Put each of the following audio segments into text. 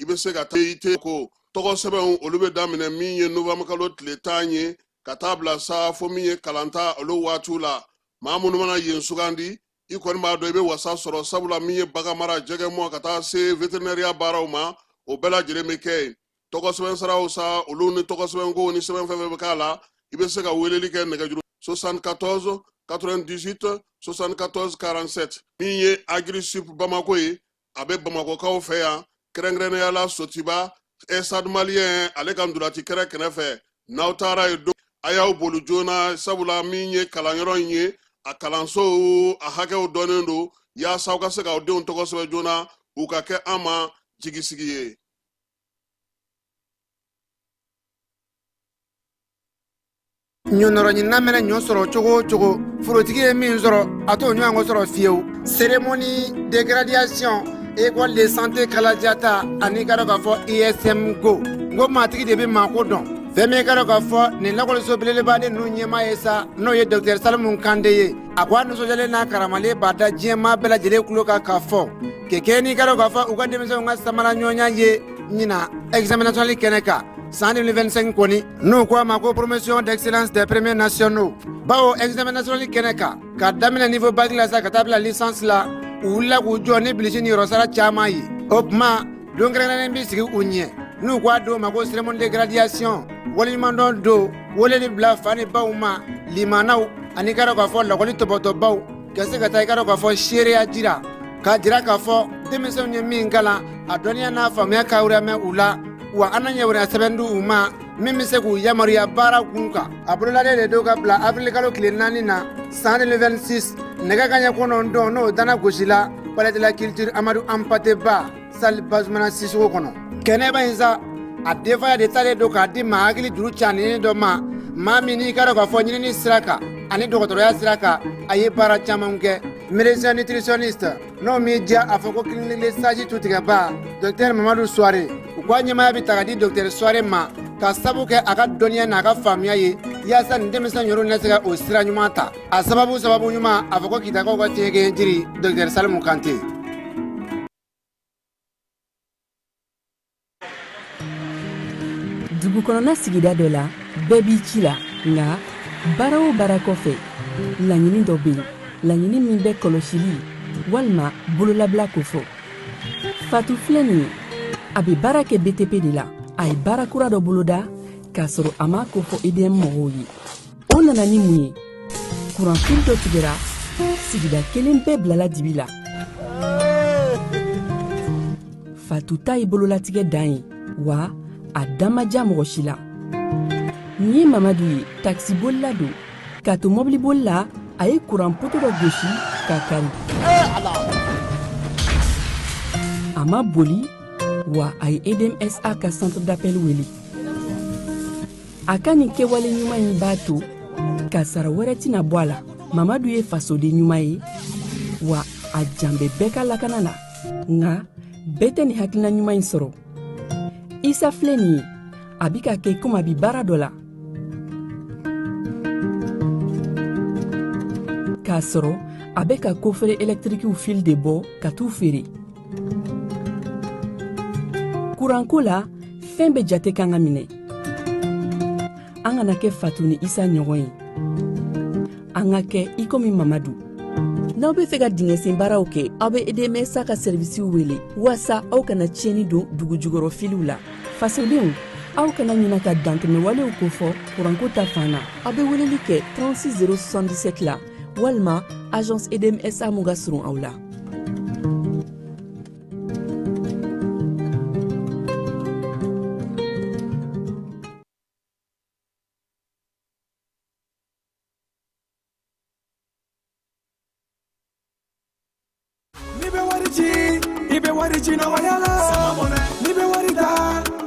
i bɛ se ka taa i tɛ ko tɔgɔ sɛbɛnw olu bɛ daminɛ min ye novanburukalo tile tan ye ka taa bila sa fo min ye kalanta olu waatiw la maa minnu mana yen sugandi i kɔni b'a dɔn i bɛ wasa sɔrɔ sabula min ye baganmara jɛgɛmɔ ka taa se veterinɛriya baaraw ma o bɛɛ lajɛlen bɛ kɛ yen tɔgɔ sɛbɛn saraw sa olu ni tɔgɔ sɛbɛnko ni sɛbɛn fɛn fɛn bɛ k'a la i bɛ se ka weleli kɛ nɛgɛjuru 74 98 74 47 min ye agirisup bamako ye a bɛ bamakokaw fɛ yan kɛrɛnkɛrɛnnenya la sotiba estade maliyɛn ale ka ntolaci kɛrɛ kɛnɛ fɛ n'aw taara yen don a y'aw boli joona sabula min ye kalanyɔrɔ in ye a kalansow a hakɛw dɔnnen don yaasa aw ka se k'aw denw tɔgɔ sɛbɛn joona u ka kɛ an ma jigisigi ye ɲɔnɔrɔ ɲinina mɛnɛ ɲɔ sɔrɔ cogo o cogo forotigi ye min sɔrɔ a t'o ɲɔgɔn sɔrɔ fiyewu seremoni de gradiyasiyɔn ekɔli de sante kalajata ani i ka dɔn k'a fɔ ism ko n ko maatigi de bɛ maako dɔn fɛn min i ka dɔn k'a fɔ nin lakɔliso belebeleba de ninnu ɲɛmaa ye sa n'o ye dɔkitɛri salimu kante ye a ko a nisɔndiyalen n'a karamalen b'a da diɲɛmaa bɛɛ lajɛlen tulo kan k'a fɔ kɛ kɛ n'i ka dɔn k'a fɔ u ka denmisɛnw ka samara ɲɔgɔnya ye ɲinan ɛgizamɛn nasɔnali kɛnɛ kan san 2025 kɔni n'u ko a ma ko poromosiyon d'ɛkiselansi de premiye nasiyono bawo ɛgizamɛn nasiyonali kɛnɛ kan ka daminɛ nivo baki la sa ka taa bila lisansi la u wulila k'u jɔ ni bilisi ni yɔrɔsara caman ye o tuma don kɛrɛnkɛrɛnnen bɛ sigi u ɲɛ n'u k'a don ma ko seremoni de gradiyasiyɔn waleɲumandɔn don weleli bila fa ni baw ma limanaw ani ka dɔn k'a fɔ lakɔli tɔbɔtɔbaw Ka se ka taa i ka dɔn k'a fɔ seereya jira k'a jira k'a fɔ denmisɛnw ye min kalan a dɔnniya n'a faamuya ka mɛn u la wa an na ɲɛ wɛrɛ sɛbɛn di u ma min bɛ se k'u yamaruya baara kun kan a bololalen de don ka bila awirili kalo tile naani na san 2026 nɛgɛ ka ɲɛ kɔnɔntɔn n'o dana gosila palɛ de la kilitiri amadu anpate ba sali bazumana sisɔkɔ kɔnɔ kɛnɛba in sa a denfaya de talen don k'a di maa hakili juru caaninen dɔ ma maa min n'i ka dɔn k'a fɔ ɲinini sira kan ani dɔgɔtɔrɔya sira kan a ye baara caman kɛ médecin nutritionniste n'o m'i diya a fɔ ko kiliniki le saji tutigɛba dɔktɛr mamadu suware u k'a ɲɛmaya bɛ ta ka di dɔktɛr suware ma k'a sabu kɛ a ka dɔnniya n'a ka faamuya ye yaasa nin denmisɛn yɔrɔ na se ka o sira ɲuman ta a sababu sababu ɲuman a fɔ ko kitakaw ka tiɲɛkɛ jiri dɔkitɛri salimu kante dugu kɔnɔna sigida dɔ la bɛɛ b'i ci la nka baara o baara kɔfɛ laɲini dɔ bɛ yen laɲini min bɛ kɔlɔsili walima bololabila ko fɔ fatu filɛ nin ye a bɛ baara kɛ btp de la a ye baara kura dɔ boloda k'a sɔrɔ a m'a ko fɔ edm mɔgɔw ye o nana ni mun ye kuran fili dɔ tigɛra sigida kelen bɛɛ bilala dibi la fatu ta ye bololatigɛ dan ye wa a dan ma diya mɔgɔ si la nin ye mamadu ye takisibolila don k'a to mɔbiliboli la a ye kuran poto dɔ gosi ka kari a ma boli wa a ye edmsa ka centre d'appel wele a ka nin kɛwale ɲuman in b'a to kasaara wɛrɛ tɛna bɔ a la mamadu ye fasoden ɲuman ye wa a jan bɛ bɛɛ ka lakana na nka bɛɛ tɛ nin hakilina ɲuman in sɔrɔ isa filɛ nin ye a bi k'a kɛ komi a bi baara dɔ la k'a sɔrɔ a bɛ ka kofere ɛlɛtirikiw fili de bɔ ka t'u feere kuranko la fɛn bɛɛ jate kan ka minɛ an kana kɛ fatu ni isa ɲɔgɔn ye an ka kɛ i komi mamadu n'aw be fɛ ka dingɛsen baaraw kɛ aw be edmsa ka sɛrivisiw wele waasa aw kana tiɲɛni don dugu jugɔrɔ filiw la fasodenw aw kana ɲina ka dantɛmɛwalew kofɔ kuranko ta fan na aw be weleli kɛ 36 077 la walima agence edmsa mun ka surun aw la N'i bɛ wari ci i bɛ wari ci nɔgɔya la n'i bɛ wari ta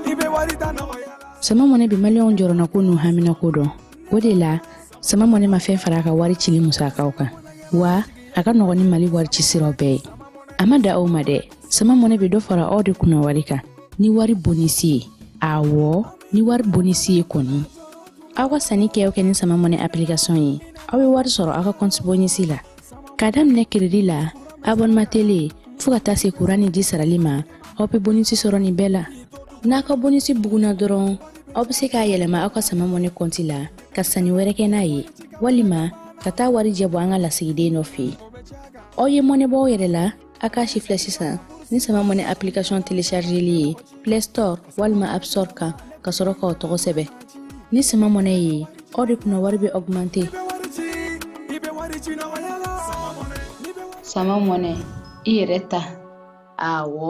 i bɛ wari ta nɔgɔya la. sama mɔnɛ bi maliyɛnw jɔrɔnako n'u haminako dɔn o de la sama mɔnɛ ma fɛn fara a ka wari cili musakaw kan wa a ka nɔgɔn ni mali wari ci siraw bɛɛ ye a ma dan o ma dɛ sama mɔnɛ bɛ dɔ fara aw de kunna wari kan ni wari bonisi ye awɔ ni wari bonisi ye kɔni aw ka sanni kɛ kɛ ni sama mɔnɛ application ye aw bɛ wari sɔrɔ aw ka kɔnti bonisi la k'a daminɛ keredi la abɔnema tele fɔɔ ka taa se kuran ni ji sarali ma aw be bonisi sɔrɔ nin bɛɛ la n'a ka bonisi buguna dɔrɔn aw be se k'a yɛlɛma aw ka sama mɔnɛ kɔnti la ka sanni wɛrɛ kɛ n'a ye walima ka taa warijɛ bɔ an ka lasigiden dɔ fɛ aw ye mɔnɛ bɔ aw yɛrɛ la a k'a sifilɛ sisan ni sama mɔnɛ application téléchargeli ye play store walima app store kan ka sɔrɔ k'aw tɔgɔ sɛbɛn ni sama mɔnɛ ye aw de kunna wari bɛ augmenter sama mɔnɛ i yɛrɛ ta awɔ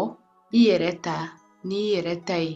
i yɛrɛ ta n'i yɛrɛ ta ye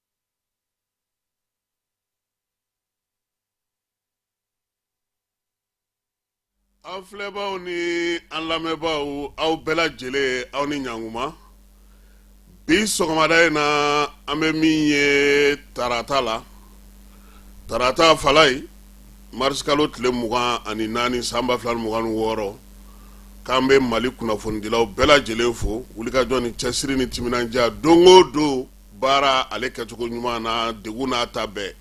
an filɛbaaw ni an lamɛnbaaw aw bɛɛ lajɛlen aw ni ɲankuma bi sɔgɔmada in na an bɛ min ye tarata la tarata falayi marisikalo tile mugan ani naani san ba fila ni mugan ni wɔɔrɔ k'an bɛ mali kunnafonidilaw bɛɛ lajɛlen fo wulikajɔ ni cɛsiri ni timinadiya don o don baara ale kɛcogo ɲuman na degun n'a ta bɛɛ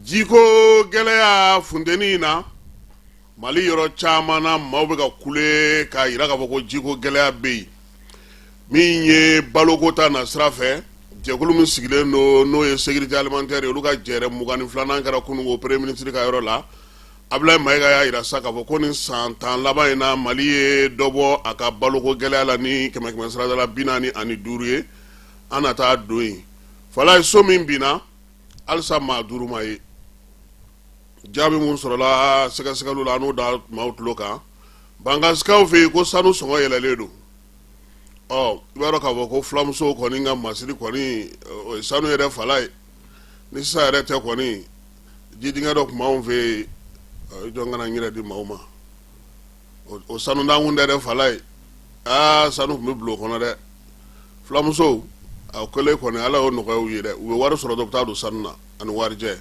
jiko gɛlɛya funteni in na mali yɔrɔ caman na maaw bɛ ka kule k'a jira k'a fɔ ko jiko gɛlɛya bɛ yen min ye balokota na sira fɛ jɛkulu min sigilen don n'o ye sécurité alimentaire ye olu ka jɛrɛ mugan ni filanan kɛra kununko premier ministre ka yɔrɔ la abdulayi mayiga y'a jira sa k'a fɔ ko nin san tan laban in na mali ye dɔ bɔ a ka baloko gɛlɛya la ni kɛmɛkɛmɛ sirada la bi naani ani duuru ye an na taa don yen falayi so min binna halisa maa duuru ma ye jaabi minnu sɔrɔla sɛgɛsɛgɛliw la an n'o da maaw tulo kan bankasikaw fɛ yen ko sanu sɔngɔ yɛlɛlen don ɔ i b'a dɔn k'a fɔ ko fulamusow kɔni ka masiri kɔni o ye sanu yɛrɛ falayi ni sisan yɛrɛ tɛ kɔni jidingɛ dɔ tun b'anw fɛ yen jɔn kana n yɛrɛ di maaw ma o sanu da kun tɛ dɛ falayi aa sanu tun bɛ bila o kɔnɔ dɛ fulamusow a kɛlen kɔni ala y'o nɔgɔya u ye dɛ u bɛ wari sɔrɔ dɔ bɛ taa don sanu na ani warijɛ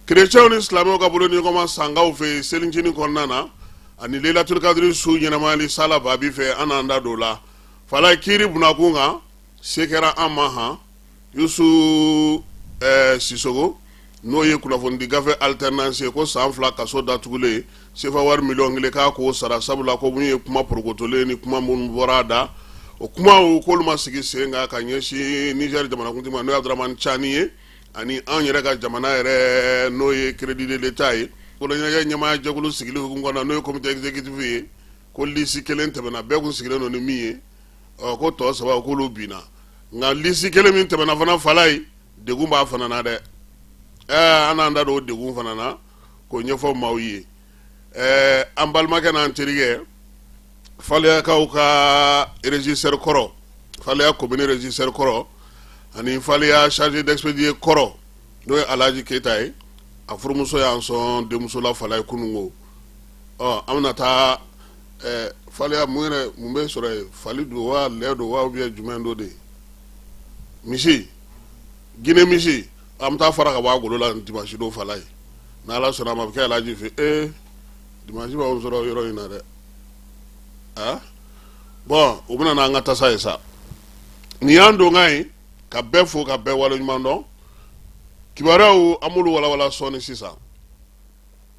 kerecɛnw ni silamɛw ka bolodiɲɔgɔnma sankaw fɛ yen selicinin kɔnɔna na ani layilatulikadiri su ɲɛnamayali sala babi fɛ an n'an da don o la falayi kiri binna kun kan se kɛra an ma han yusu eh, sisogo n'o ye kunnafonidi gafe alternance ye ko san fila kaso datugulen sefa wari miliyɔn kelen k'a k'o sara sabula ko mun ye kuma porokotolen ni kuma minnu bɔra a da o kumaw k'olu ma sigi sen kan ka ɲɛsin niger jamanakuntigi ma n'o ye abdramani cani ye ani an yɛrɛ ka jamana yɛrɛ n'o ye crédit de l'état ye koloɲɛnajɛ ɲɛmaaya jɛkulu sigili hukumu kɔnɔ n'o ye comité exécutif ye ko lisi kelen tɛmɛna bɛɛ kun sigilen don ni min ye ɔ ko tɔ saba k'olu binna nka lisi kelen min tɛmɛna fana falayi degun b'a fana na dɛ ɛɛ an n'an da don o degun fana na k'o ɲɛfɔ maaw ye ɛɛ an balimakɛ n'an terikɛ faleyakaw ka régisseur kɔrɔ faleya commune régisseur kɔrɔ ani faleya chargé d'expédier kɔrɔ n'o ye alhaji keyita ye a furumuso y'an sɔn denmuso la falayi kununko an bɛna taa faleya mun mun bɛ sɔrɔ yen fali don waa lɛ don waa ye jumɛn don de ye misi gine misi an bɛ taa fara ka bɔ golo la ni dimansi don falayi n' ala sɔnna a ma a bɛ kɛ alaji fɛ ee dimansi b'an sɔrɔ yɔrɔ in na dɛ a bɔn u bɛna n'an ka tasa ye sa nin y'an donkan ye ka bɛɛ fo ka bɛɛ waleɲumandɔn kibaruyaw an b'olu walawala sɔɔni sisan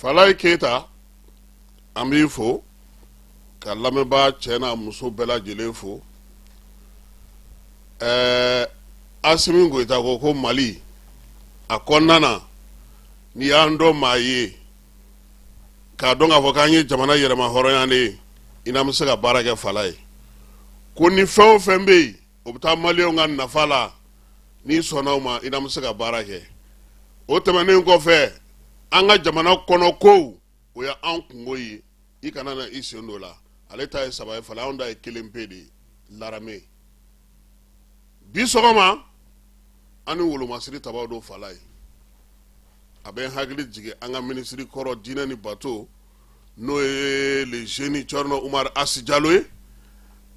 falayi keyita an b'i fo ka lamɛnbaa cɛ n'a muso bɛɛ lajɛlen fo ɛɛ asimi goyita ko ko mali a kɔnɔna na n'i y'an dɔn maa ye k'a dɔn k'a fɔ k'an ye jamana yɛrɛmahɔrɔnyalen ye i n'an bɛ se ka baara kɛ falayi ko ni fɛn o fɛn bɛ yen o bɛ taa maliyɛnw ka nafa la n'i sɔnna o ma i n'an bɛ se ka baara kɛ o tɛmɛnen kɔfɛ an ka jamana kɔnɔ kow o ye an kunko ye i kana na i sen d'o la ale ta ye saba ye fala anw ta ye kelen pe de ye larame bi sɔgɔma an ni wolomasiri tabaw don falayi a bɛ n hakili jigin an ka minisiri kɔrɔ diinɛ ni bato n'o ye le jeune Thierno Oumar Hass Diallo ye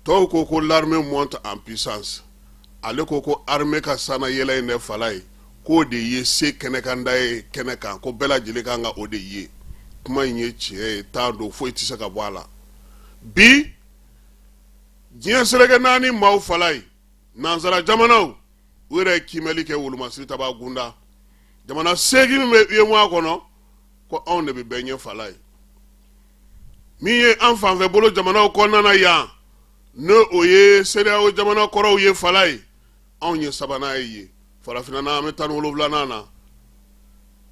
tɔw ko ko l'armée monte en puissance ale ko ko armée ka sanna yɛlɛ in dɛ falayi k'o de ye se kɛnɛkanda ye kɛnɛ kan ko bɛɛ lajɛlen kan ka o de ye kuma in ye tiɲɛ ye t'a don foyi tɛ se ka bɔ a la bi diɲɛ seleke naani maaw falayi nansara jamanaw u yɛrɛ ye kiimɛli kɛ wolomasiri tabaa kunda jamana seegin min bɛ UEMOA kɔnɔ ko anw de bɛ bɛɛ ɲɛ falayi min ye an fanfɛ bolo jamanaw kɔnɔna na yan n'o ye CEDEAO jamana kɔrɔw ye falayi anw ye sabanan ye ye farafinna na an bɛ tan ni wolonwulanan na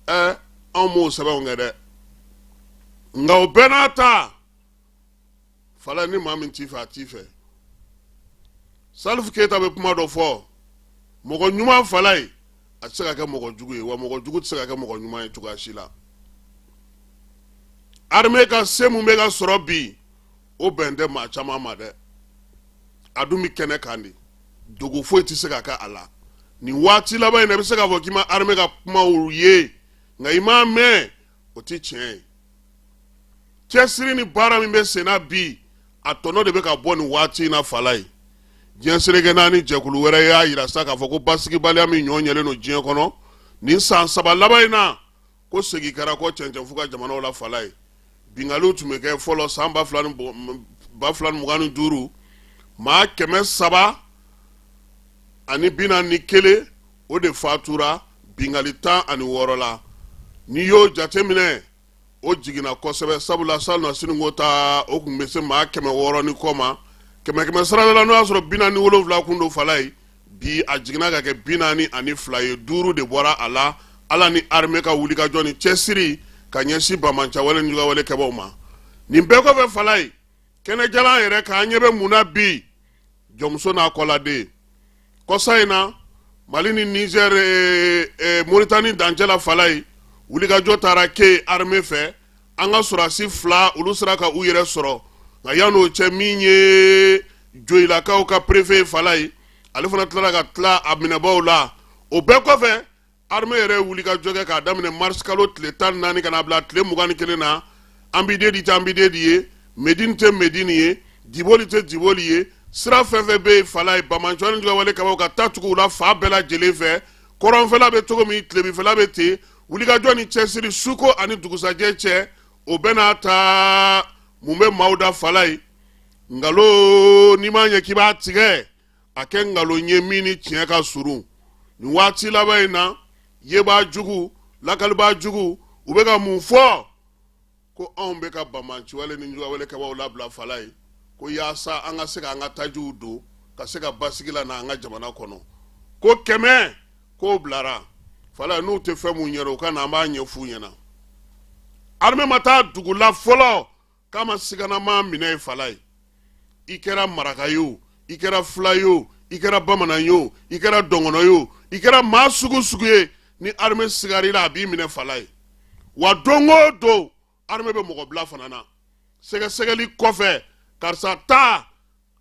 ɛ anw m'o sɛbɛnw kɛ dɛ nka o bɛɛ n'a ta falayi ni maa min t'i fɛ a t'i fɛ salifu keyita bɛ kuma dɔ fɔ mɔgɔ ɲuman falayi a tɛ se ka kɛ mɔgɔ jugu ye wa mɔgɔ jugu tɛ se ka kɛ mɔgɔ ɲuman ye cogoya si la armée ka se mun bɛ ka sɔrɔ bi o bɛn tɛ maa caman ma dɛ a dun bɛ kɛnɛ kan de dogo foyi tɛ se ka kɛ a la nin waati laban in na i bɛ se k'a fɔ k'i ma armée ka kumaw ye nka i m'a mɛn o tɛ tiɲɛ ye cɛsiri ni baara min bɛ senna bi a tɔnɔ de bɛ ka bɔ nin waati in na falayi diɲɛ seleke naani jɛkulu wɛrɛ y'a yira sa k'a fɔ ko basigibaliya min ɲɔgɔn ɲɛlen don diɲɛ kɔnɔ nin san saba laban in na ko segin kɛra kɔ cɛncɛnfu ka jamanaw la falayi binkaliw tun bɛ kɛ fɔlɔ san ba fila ni mugan ni duuru maa kɛmɛ saba ani bi naani ni kelen o de fatura binkanli tan ani wɔɔrɔ la n'i y'o jateminɛ o jiginna kosɛbɛ sabula salonnasini ko ta o tun bɛ se maa kɛmɛ wɔɔrɔ ni kɔ ma kɛmɛ kɛmɛ sarada la n'o y'a sɔrɔ bi naani wolonwula kun don Falayi bi a jiginna ka kɛ bi naani ani fila ye duuru de bɔra a la ala ni armée ka wulikajɔ ni cɛsiri ka ɲɛsin banbaanciwale ni juguyawale kɛbaaw ma nin bɛɛ kɔfɛ Falayi kɛnɛjalan yɛrɛ k'an ɲɛ bɛ mun na bi jɔnmuso n'a kɔladen kɔsa in na mali ni nizɛr eh, eh, moritani dancɛ la Falayi wulikajɔ taara kɛ arme fɛ an ka sɔrɔdasi fila olu sera ka u yɛrɛ sɔrɔ nka yan'o cɛ min ye joyilakaw ka perefe ye Falayi ale fana tilara ka tila a minɛbaw la o bɛɛ kɔfɛ armée yɛrɛ wulikajɔ kɛ k'a daminɛ marisikalo tile tan naani ka na bila tile mugan ni kelen na Anbidedi tɛ Anbidedi ye Medine tɛ Medine ye diboli tɛ diboli ye sira fɛn fɛn bɛ Falayi banbaanci ni juguyawale kɛbaaw ka taa tugu u la fan bɛɛ lajɛlen fɛ kɔrɔnfɛla bɛ cogo min tilebinfɛla bɛ ten wulikajɔ ni cɛsiri suko ani dugusɛjɛ cɛ o bɛ n'a ta mun bɛ maaw da Falayi nkalon n'i m'a ɲɛ k'i b'a tigɛ a kɛ nkalon ye min ni tiɲɛ ka surun nin waati laban in na yebaa jugu lakalibaa jugu u bɛ ka mun fɔ ko anw bɛ ka banbaanciwale ni juguyawale kɛbaaw labila Falayi ko yaasa an ka se ka an ka tajiw don ka se ka basigi lana an ka jamana kɔnɔ ko kɛmɛ k'o bilara Falayi n'u tɛ fɛn mun ɲɛ u ka na an b'a ɲɛf'u ɲɛna armée maa taa dugu la fɔlɔ ka maa siganama minɛ yen Falayi i kɛra maraka ye o i kɛra fila ye o i kɛra bamanan ye o i kɛra dɔngɔnɔ ye o i kɛra maa sugu sugu ye ni armée sigar'i la a b'i minɛ Falayi wa don o don armée bɛ mɔgɔ bila fana na sɛgɛsɛgɛli kɔfɛ karisa taa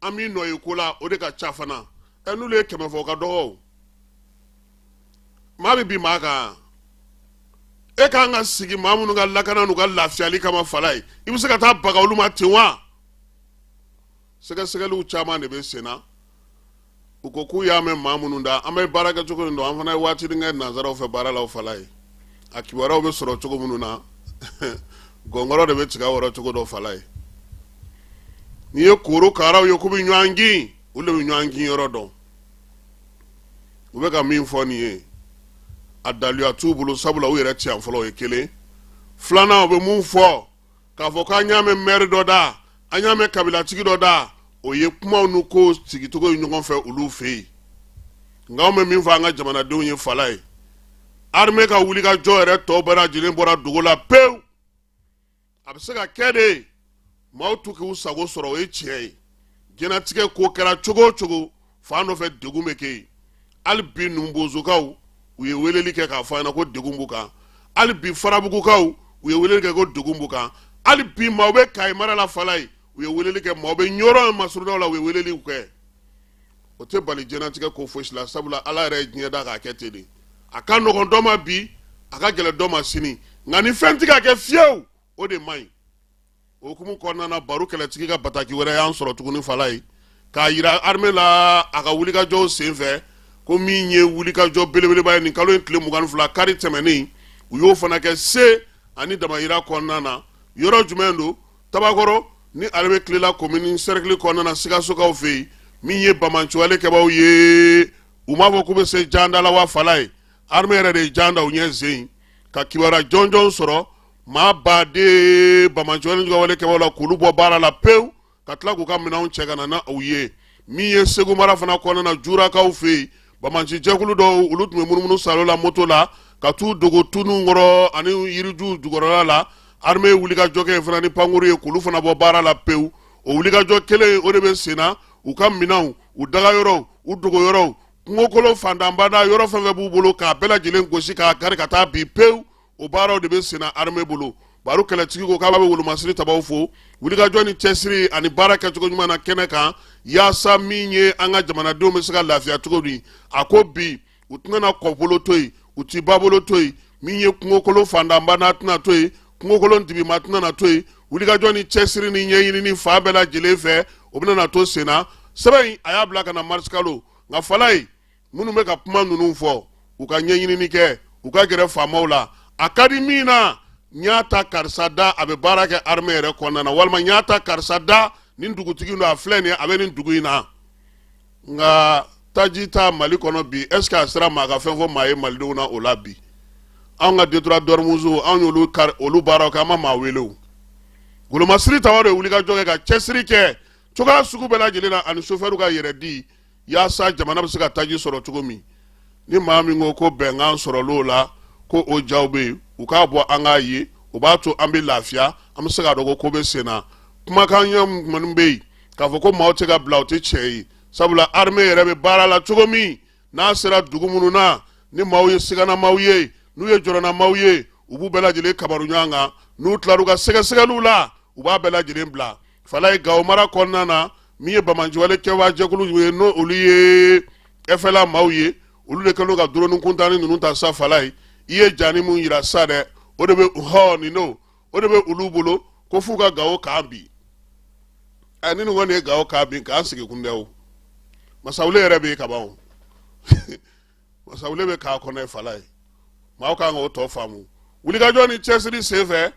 an m'i nɔ ye ko la o de ka ca fana ɛ n'olu ye kɛmɛ fɔ o ka dɔgɔ o maa bɛ bin maa kan e k'an ka sigi maa minnu ka lakana n'u ka lafiyali kama Falayi i bɛ se ka taa baga olu ma ten wa sɛgɛsɛgɛliw caman de bɛ sen na u ko k'u y'a mɛn maa minnu da an bɛ baara kɛ cogo nin dɔn an fana ye waati kɛ nansaraw fɛ baara la Falayi a kibaruyaw bɛ sɔrɔ cogo minnu na gɔnkɔrɔ de bɛ tiga wɔrɔcogo dɔn Falayi n'i ye korokaraw ye k'u bɛ ɲɔgɔn kin u de bɛ ɲɔgɔn kinyɔrɔ dɔn u bɛ ka min fɔ nin ye a daluya t'u bolo sabula u yɛrɛ tɛ yan fɔlɔ o ye kelen filanan u bɛ mun fɔ k'a fɔ k'an y'a mɛn mɛri dɔ da an y'a mɛn kabilatigi dɔ da o ye kumaw n'u ko sigicogo ye ɲɔgɔn fɛ olu fɛ yen nka anw bɛ min fɔ an ka jamanadenw ye Falayi armée ka wulikajɔ yɛrɛ tɔ bɛɛ lajɛlen bɔra dogo la pewu a bɛ se ka kɛ de maaw t'u k'u sago sɔrɔ o ye tiɲɛ ye diɲɛnatigɛ ko kɛra cogo o cogo fan dɔ fɛ degun bɛ kɛ yen hali bi numubozokaw u ye weleli kɛ k'a fɔ an ɲɛna ko degun b'u kan hali bi farabugukaw u ye weleli kɛ ko degun b'u kan hali bi maaw bɛ kayi mara la falayi u ye weleli kɛ maaw bɛ ɲɔrɔ masurunnaw la u ye weleliw kɛ o tɛ bali diɲɛnatigɛ ko fosi la sabula ala yɛrɛ ye diɲɛ da k'a kɛ ten de a ka nɔgɔn dɔ ma bi a ka gɛlɛn dɔ ma sini nka ni fɛn tɛ ka kɛ fiyewu o de man ɲi o hukumu kɔnɔna na baru kɛlɛtigi ka bataki wɛrɛ y'an sɔrɔ tuguni falayi k'a yira arme la a ka wulikajɔw senfɛ ko min ye wulikajɔ belebeleba ye nin kalo in tile mugan ni fila kari tɛmɛnen u y'o fana kɛ se ani damayira kɔnɔna na yɔrɔ jumɛn don tabakɔrɔ ni ale bɛ kilela komini sɛrikili kɔnɔna na sikasokaw fɛ yen min ye banbaanciwale kɛbaaw ye u m'a fɔ k'u bɛ se jan da la wa falayi arme yɛrɛ de ye jan da u ɲɛ yen ka kibaruya jɔnjɔn sɔrɔ maa ba de banbaanci wale juguya wale kɛbaaw la k'olu bɔ baara la pewu ka tila k'u ka minɛnw cɛ ka na na u ye min ye segu mara fana kɔnɔna na jurakaw fɛ yen banbaanci jɛkulu dɔw olu tun bɛ munumunu salo la moto la ka t'u dogo tu ninnu kɔrɔ ani yirijuw jukɔrɔla la armée ye wulikajɔ kɛ yen fana ni pankurun ye k'olu fana bɔ baara la pewu o wulikajɔ kelen o de bɛ sen na u ka minɛnw u dagayɔrɔw u dogoyɔrɔw kungokolon fantanbada yɔrɔ fɛn fɛn b'u bolo k'a bɛɛ lajɛlen gosi k'a kari ka taa bi pewu o baaraw de bɛ senna armée bolo baru kɛlɛtigi ko k'a bɛ wolomasiri tabaaw fo wulikajɔ ni cɛsiri ani baara kɛcogo ɲuman na kɛnɛ kan yaasa min ye an ka jamanadenw bɛ se ka lafiya cogo min a ko bi u tɛna kɔbolo to yen u ti babolo to yen min ye kungokolon fantanbada tɛna to yen kungokolon dibima tɛna na to yen wulikajɔ ni cɛsiri ni ɲɛɲinini fan bɛɛ lajɛlen fɛ o bɛna na to senna sɛbɛn in a y'a bila ka na marisikalo nka falayi minnu bɛ ka kuma ninnu fɔ u ka ɲɛɲinini kɛ u ka gɛrɛ faamaw la a ka di min na n y'a ta karisa da a bɛ baara kɛ armɛ yɛrɛ kɔnɔna na walima n y'a ta karisa da nin dugutigi don a filɛ nin ye a bɛ nin dugu in na nka taji ta mali kɔnɔ bi est ce que a sera maa ka fɛn fɔ maa ye malidenw na o la bi anw ka détroit d'ormuz anw y'olu kari olu baaraw kɛ an ma maa wele o golomasiri tabaaw de ye wulikajɔ kɛ ka cɛsiri kɛ cogoya sugu bɛɛ lajɛlen na ani sofɛriw ka yɛrɛ di yaasa jamana bɛ se ka taji sɔrɔ cogo min ni maa min ko ko bɛnkan sɔrɔl'o la ko o jaw bɛ yen u k'a bɔ an k'a ye o b'a to an bɛ lafiya an bɛ se k'a dɔn ko ko bɛ sen na kumakan ɲɛ minnu bɛ yen k'a fɔ ko maaw tɛ ka bila o tɛ tiɲɛ ye sabula armée yɛrɛ bɛ baara la cogo min n'a sera dugu minnu na ni maaw ye siganamaw ye n'u ye jɔrɔnamaw ye u b'u bɛɛ lajɛlen kabaru ɲɔgɔn kan n'u tilar'u ka sɛgɛsɛgɛliw la u b'a bɛɛ lajɛlen bila falayi gawo mara kɔnɔna na min ye banbaanciwale kɛwaa jɛkulu ye n'o olu ye ɛfɛla maaw ye olu de kɛlen ka duroni kuntanni ninnu ta sa falayi i ye jani min yira sa dɛ o de bɛ hɔ nin n'o o de bɛ olu bolo ko f'u ka gawo kan bin ɛ ni ninnu kɔni ye gawo kan bin k'an sigi kun dɛ o masawule yɛrɛ bɛ yen kaban o masawule bɛ k'a kɔnɔ yen falayi maaw kan k'o tɔ faamu wulikajɔ ni cɛsiri senfɛ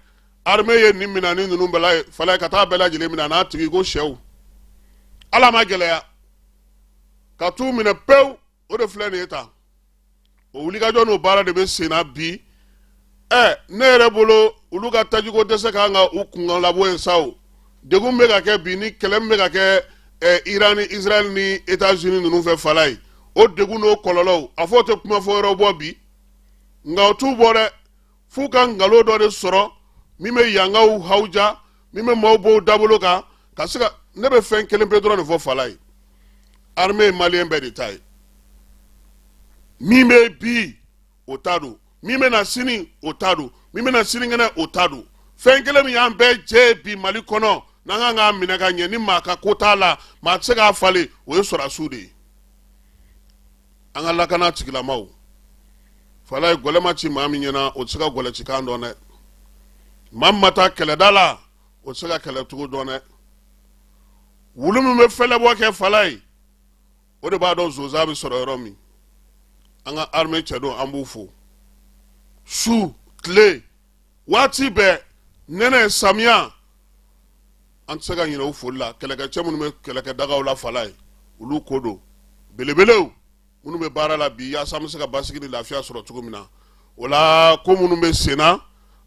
arme ye nin mina ni ninnu bɛla ye falayi ka taa bɛɛ lajɛlen mina n'a tigi ko sɛw ala ma gɛlɛya ka t'u minɛ pewu o de filɛ nin ye tan o wulikajɔ n'o baara de bɛ senna bi ɛ ne yɛrɛ bolo olu ka tajiko dɛsɛ kan ka u kunkan labɔ yen sa o degun min bɛ ka kɛ bi ni kɛlɛ min bɛ ka kɛ ɛ iran ni israɛl ni etats unis ninnu fɛ falayi o degun n'o kɔlɔlɔw a fɔ o tɛ kuma fɔ yɔrɔ bɔ bi nka o t'u bɔ dɛ f'u ka nkalon dɔ de sɔrɔ min bɛ yankaw hawuja min bɛ maaw bɔ u dabolo kan ka se ka ne bɛ fɛn kelen pe dɔrɔn de fɔ falayi armée ye maliyɛn bɛɛ de ta ye min bɛ bi o ta don min bɛna sini o ta don min bɛna sinikɛnɛ o ta don fɛn kelen min y'an bɛɛ jɛ bi mali kɔnɔ n'an kan k'a minɛ ka ɲɛ ni maa ka ko t'a la maa tɛ se k'a falen o ye sɔrɔdasiw de ye an ka lakana tigilamaw falayi gɔlɛ ma ci maa min ɲɛna o tɛ se ka gɔlɛ ci kan dɔn dɛ maa min ma taa kɛlɛda la o tɛ se ka kɛlɛcogo dɔn dɛ wulu min bɛ fɛlɛbɔ kɛ falayi o de b'a dɔn sonsan bɛ sɔrɔ yɔrɔ min an ka armée cɛ don an b'u fo su tile waati bɛɛ nɛnɛ samiya an tɛ se ka ɲinɛ u foli la kɛlɛkɛcɛ minnu bɛ kɛlɛkɛdagaw la falayi olu ko don belebelew minnu bɛ baara la bi yaasa an bɛ se ka basigi ni lafiya sɔrɔ cogo min na o la ko minnu bɛ senna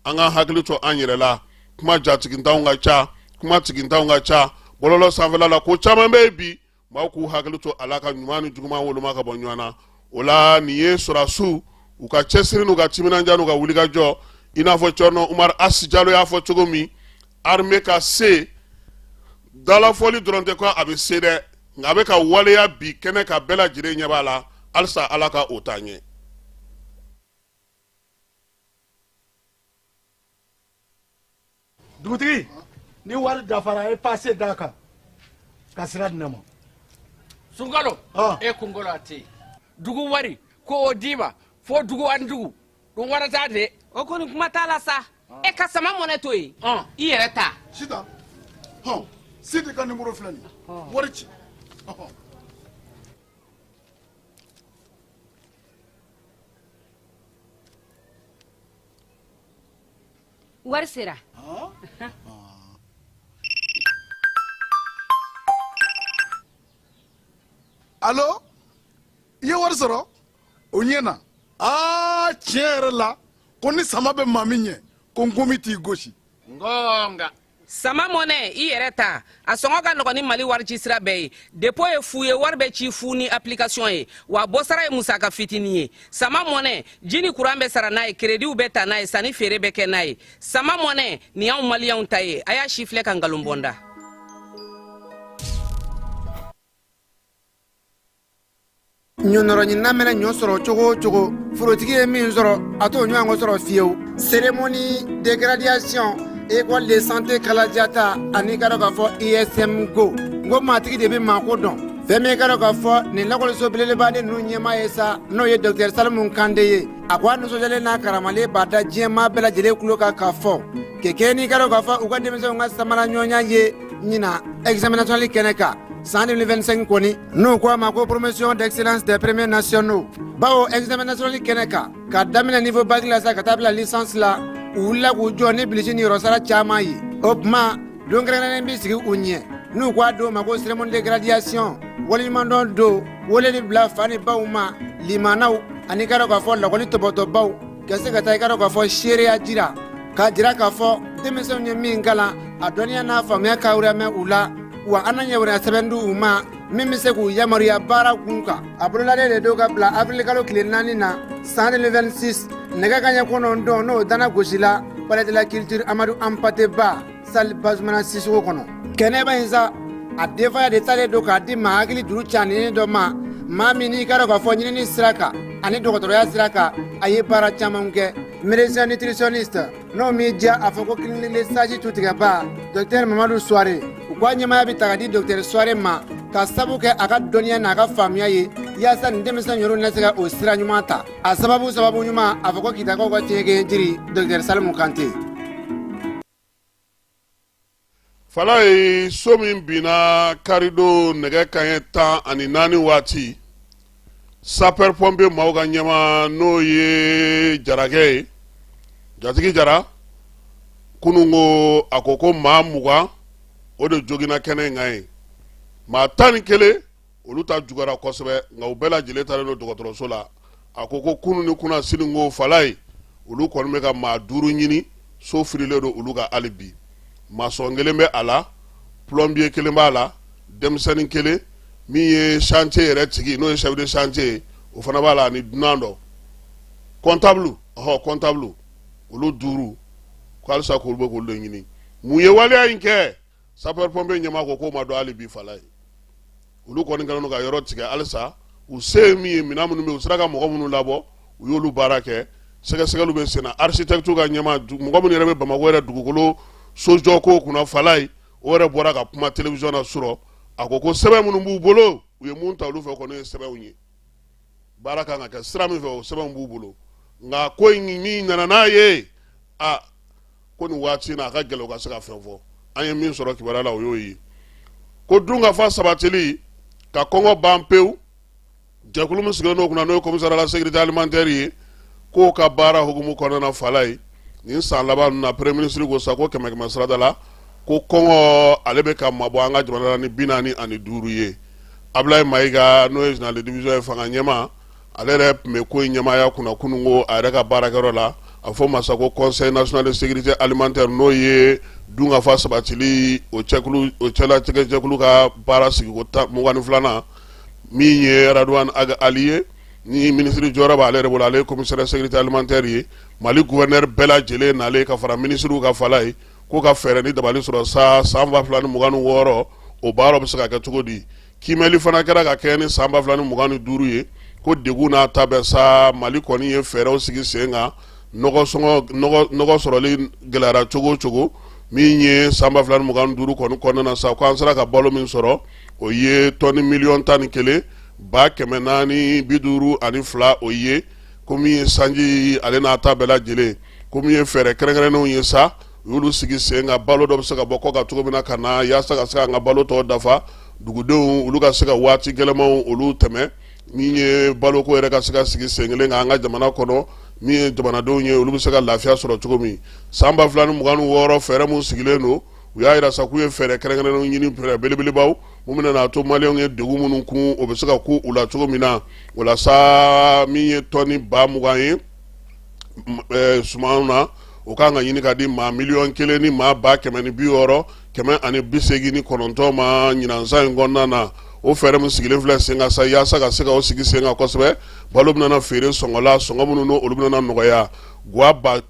an ka hakili to an yɛrɛ la kuma jatigintanw ka ca kuma tigintanw ka ca bɔlɔlɔ sanfɛla la ko caman bɛ yen bi maaw k'u hakili to a la ka ɲuman ni juguman woloma ka bɔ ɲɔgɔn na o la nin ye sɔrɔdasiw u ka cɛsiri n'u ka timinandiya n'u ka wulikajɔ i n'a fɔ cɔrɔnɔ umaru asi jalo y'a fɔ cogo min arme ka se dalafɔli dɔrɔn tɛ ko a bɛ se dɛ nka a bɛ ka waleya bi kɛnɛ kan bɛɛ lajɛlen ɲɛ b'a la halisa ala ka o taa ɲɛ dugutigi ni wari dafara e pase d'a kan ka sira di ne ma sunkalo e kunkolo a tɛ yen dugu wari ko o d'i ma fo dugu ani dugu dun wari t'a de o kɔni kuma t'a la sa e ka sama mɔnɛ to yen i yɛrɛ ta sita hɔn sidi ka nimoro filɛ nin wari ci wari sera alo i ye wari sɔrɔ o ɲɛna aa tiɲɛ yɛrɛ la ko ni sama bɛ maa min ɲɛ ko nkomi t'i gosi ngonga sama mɔnɛ i yɛrɛ ta a sɔngɔ ka nɔgɔn ni mali warici sira bɛɛ ye depo ye fu ye wari bɛ ci fu ni application ye wa bɔsara ye musaka fitinin ye sama mɔnɛ ji ni kuran bɛ sara n'a ye kerediw bɛ ta n'a ye sanni feere bɛ kɛ n'a ye sama mɔnɛ nin y'anw maliyɛnw ta ye a y'a sifilɛ ka nkalon bɔ n da ɲɔnɔrɔɲinina mɛnɛ ɲɔ sɔrɔ cogo o cogo forotigi ye min sɔrɔ a t'o ɲɔgɔn sɔrɔ fiyewu cérémonie de graduation école de santé kalajata ani i k'a dɔn k'a fɔ ism go n ko maatigi de bɛ maako dɔn fɛn min i k'a dɔn k'a fɔ nin lakɔliso belebeleba de ninnu ɲɛmaa ye sa n'o ye dɔktɛri salimu kante ye a ko a nisɔndiyalen n'a karamalen b'a da diɲɛmaa bɛɛ lajɛlen tulo kan k'a fɔ kɛ kɛ n'i k'a dɔn k'a fɔ u ka denmisɛnw ka samara ɲɔgɔnya ye ɲinan examen national kɛnɛ kan San 2025 kɔni n'u ko a ma ko promotion d'excellence des premiers nationaux bawo examen national kɛnɛ kan ka daminɛ niveau bac la sa ka taa bila licence la u wulila k'u jɔ ni bilisi ni yɔrɔsara caman ye o tuma don kɛrɛnkɛrɛnnen bɛ sigi u ɲɛ n'u k'a don ma ko cérémonie de graduation waleɲumandɔn don weleli bila fa ni baw ma limaanaw ani i k'a dɔn k'a fɔ lakɔli tɔpɔtɔbaaw ka se ka taa i k'a dɔn k'a fɔ seereya jira k'a jira k'a fɔ denmisɛnw ye min kalan a dɔnniya n'a faamuya ka wɛrɛmɛ u la wa an ɲa sɛbɛn di u ma min bɛ se k'u yamaruya baara kun kan a bololalen de don ka bila avril kalo tile naani na san 2026 nɛgɛ kaɲɛ kɔnɔntɔn n'o dana gosila palais de la culture amadu anpate ba salle bazumana sisoko kɔnɔ kɛnɛba in sa a denfaya de talen don k'a di maa hakili duuru ca ni dɔ ma maa min n'i k'a dɔn k'a fɔ ɲinini sira kan ani dɔgɔtɔrɔya sira kan a ye baara caman kɛ médecin nutritionniste N'o m'i diya a fɔ ko clinique le sage tutigɛbaa dɔktɛri mamadu suware u ko a ɲɛmaaya bɛ ta ka di dɔktɛri suware ma k'a sabu kɛ a ka dɔnniya n'a ka faamuya ye yaasa nin denmisɛn yɔrɔ na se ka o sira ɲuman ta a sababu sababu ɲuman a fɔ ko kitakaw ka cɛ jiri dɔktɛri salimu kante falajɛ so min binna karidon nɛgɛ kaɲɛ tan ani naani waati sapeur pompier maaw ka ɲɛmaa n'o ye jarakɛ ye jatigi jara kunun ko a ko ko maa mugan o de joginna kɛnɛ in kan ye maa tan ni kelen olu ta juguyara kosɛbɛ nka u bɛɛ lajɛlen taalen don dɔgɔtɔrɔso la a ko ko kunun ni kunasini ko fala ye olu kɔni bɛ ka maa duuru ɲini so firilen don olu ka hali bi masɔn kelen bɛ a la plɔnbiye kelen b'a la denmisɛnnin kelen min ye chantier yɛrɛ tigi n'o ye chef de chantier ye o fana b'a la ani dunan dɔ kɔntabulu ɔhɔ kɔntabulu olu duuru ko halisa k'olu bɛ k'olu de ɲini mun ye waleya in kɛ sapeur pompier ɲɛmaa ko k'o ma dɔn hali bi fala ye olu kɔni kɛlen don ka yɔrɔ tigɛ halisa u se ye min ye minɛn minnu bɛ yen u sera ka mɔgɔ minnu labɔ u y'olu baara kɛ sɛgɛsɛgɛliw bɛ senna architecte ka ɲɛmaa mɔgɔ minnu yɛrɛ bɛ bamakɔ yɛrɛ dugukolo sojɔko kunna fala ye o yɛrɛ bɔra ka kuma telewisɔn na surɔ a ko ko sɛbɛn minnu b'u bolo u ye mun ta olu fɛ kɔni ye sɛbɛnw ye baara kan ka kɛ sira min fɛ o sɛbɛnw b'u bolo nka ko in min nana n'a ye a ko nin waati na a ka gɛlɛn u ka se ka fɛn fɔ an ye min sɔrɔ kibaruya la o y'o ye ko dunkafa sabatili ka kɔngɔ ban pewu jɛkulu min sigilen don o kunna n'o ye komisariya a la sekirite alimantɛri ye k'o ka baara hukumu kɔnɔna fala ye nin san laban na premier ministre ko sa ko kɛmɛ kɛmɛ sarada la ko kɔngɔ ale bɛ ka mabɔ an ka jamana la ni bi naani ani duuru ye ablaye mayiga n'o ye général de division ye fanga ɲɛmaa ale yɛrɛ tun bɛ ko in ɲɛmaaya kunna kunun ko a yɛrɛ ka baarakɛyɔrɔ la a fɔ ma sa ko conseil national de sécurité alimentaire n'o ye dunkafa sabatili o o cɛlatigɛjɛkulu ka baara sigiko tan mugan filanan min ye radwan ag ali ye ni minisiri jɔyɔrɔ b'ale yɛrɛ bolo ale ye commissaire sécurité alimentaire ye mali gouverneur bɛɛ lajɛlen nalen ka fara minisiriw ka fala ye k'u ka fɛɛrɛ ni dabali sɔrɔ sa san ba fila ni mugan ni wɔɔrɔ o baara bɛ se ka kɛ cogo di kiimɛli fana kɛra ka kɛɲɛ ni san ba fila ni mugan ni duuru ye ko degun n'a ta bɛɛ sa mali kɔni ye fɛɛrɛw sigi sen kan nɔgɔ sɔrɔli gɛlɛyara cogo cogo min ye san ba fila ni mugan duuru kɔni kɔnɔna na sa ko an sera ka balo min sɔrɔ o ye tɔni miliyɔn tan ni kelen ba kɛmɛ naani bi duuru ani fila o ye ko min ye sanji ale n'a ta bɛɛ lajɛlen ko min ye fɛɛrɛ kɛrɛnkɛrɛnnenw ye sa u y'olu sigi sen kan balo dɔ bɛ se ka bɔ kɔkan cogo min na ka na yaasa ka se ka an ka balo tɔ dafa dugudenw olu ka se ka waati gɛlɛnmanw olu tɛmɛ min ye baloko yɛrɛ ka se ka sigi sen kelen kan an ka jamana kɔnɔ min ye jamanadenw ye olu bɛ se ka lafiya sɔrɔ cogo min san ba fila ni mugan ni wɔɔrɔ fɛɛrɛ minnu sigilen don u y'a yira sa k'u ye fɛɛrɛ kɛrɛnkɛrɛnnenw ɲini fɛɛrɛ belebelebaw mun bɛna n'a to maliyɛnw ye degun minnu kun o bɛ se ka ku u la cogo min na o la sa min ye tɔni ba mugan ye eh sumanw na o kan ka ɲini ka di maa miliyɔn kelen ni maa ba kɛmɛ ni bi wɔɔrɔ kɛmɛ ani bi seegin ni kɔnɔntɔn ma ɲinansan in kɔnɔna na o fɛɛrɛ min sigilen filɛ sen kan sa yaasa ka se ka o sigi sen kan kosɛbɛ balo bɛna feere sɔngɔ la sɔngɔ minnu n'olu bɛna nɔgɔya guwa ba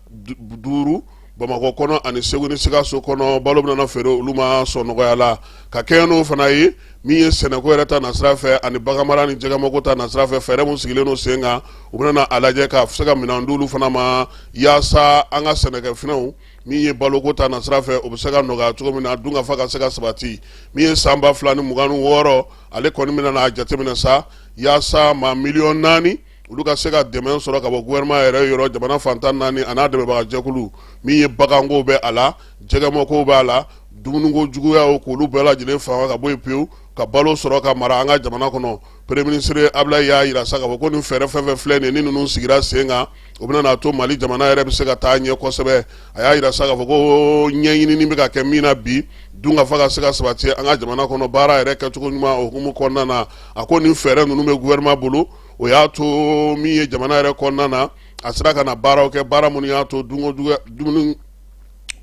duuru Bamakɔ kɔnɔ ani segu ni sikaso kɔnɔ balo bɛna feere olu ma sɔngɔ nɔgɔya la ka kɛ n'o fana ye min ye sɛnɛko yɛrɛ ta nasira fɛ ani baganmara ni jɛgɛmako ta nasira fɛ fɛɛrɛ minnu sigilen don sen kan u bɛna a lajɛ ka se ka minɛn di olu fana ma yaasa an ka sɛnɛkɛfɛnw min ye baloko ta nasira fɛ o bɛ se ka nɔgɔya cogo min na dunkafa ka se ka sabati min ye san ba fila ni mugan ni wɔɔrɔ ale kɔni bɛna a jateminɛ sa yaasa maa miliyɔn naani olu ka se ka dɛmɛ sɔrɔ ka bɔ gouvernement yɛrɛ yɔrɔ jamana fan tan naani an'a dɛmɛbagajɛkulu min ye baganko bɛ a la jɛgɛmɔko b'a la dumuniko juguyaw k'olu bɛɛ lajɛlen faga ka bɔ yen pewu ka balo sɔrɔ ka mara an ka jamana kɔnɔ premier ministre ablayi y'a yira sa k'a fɔ ko nin fɛɛrɛ fɛn fɛn filɛ nin ni ninnu sigira sen kan o bɛna n'a to mali jamana yɛrɛ bɛ se ka taa ɲɛ kosɛbɛ a y'a yira sa k'a fɔ ko ɲɛɲinini bɛ ka kɛ min na bi dunkafa ka se ka sabati an ka jamana kɔnɔ baara yɛrɛ kɛcogo ɲuman o hukumu kɔnɔna na a ko nin fɛɛrɛ ninnu bɛ gouvernement bolo o y'a to min ye jamana yɛrɛ kɔnɔna na a sera ka na baaraw kɛ baara minnu y'a to dumuni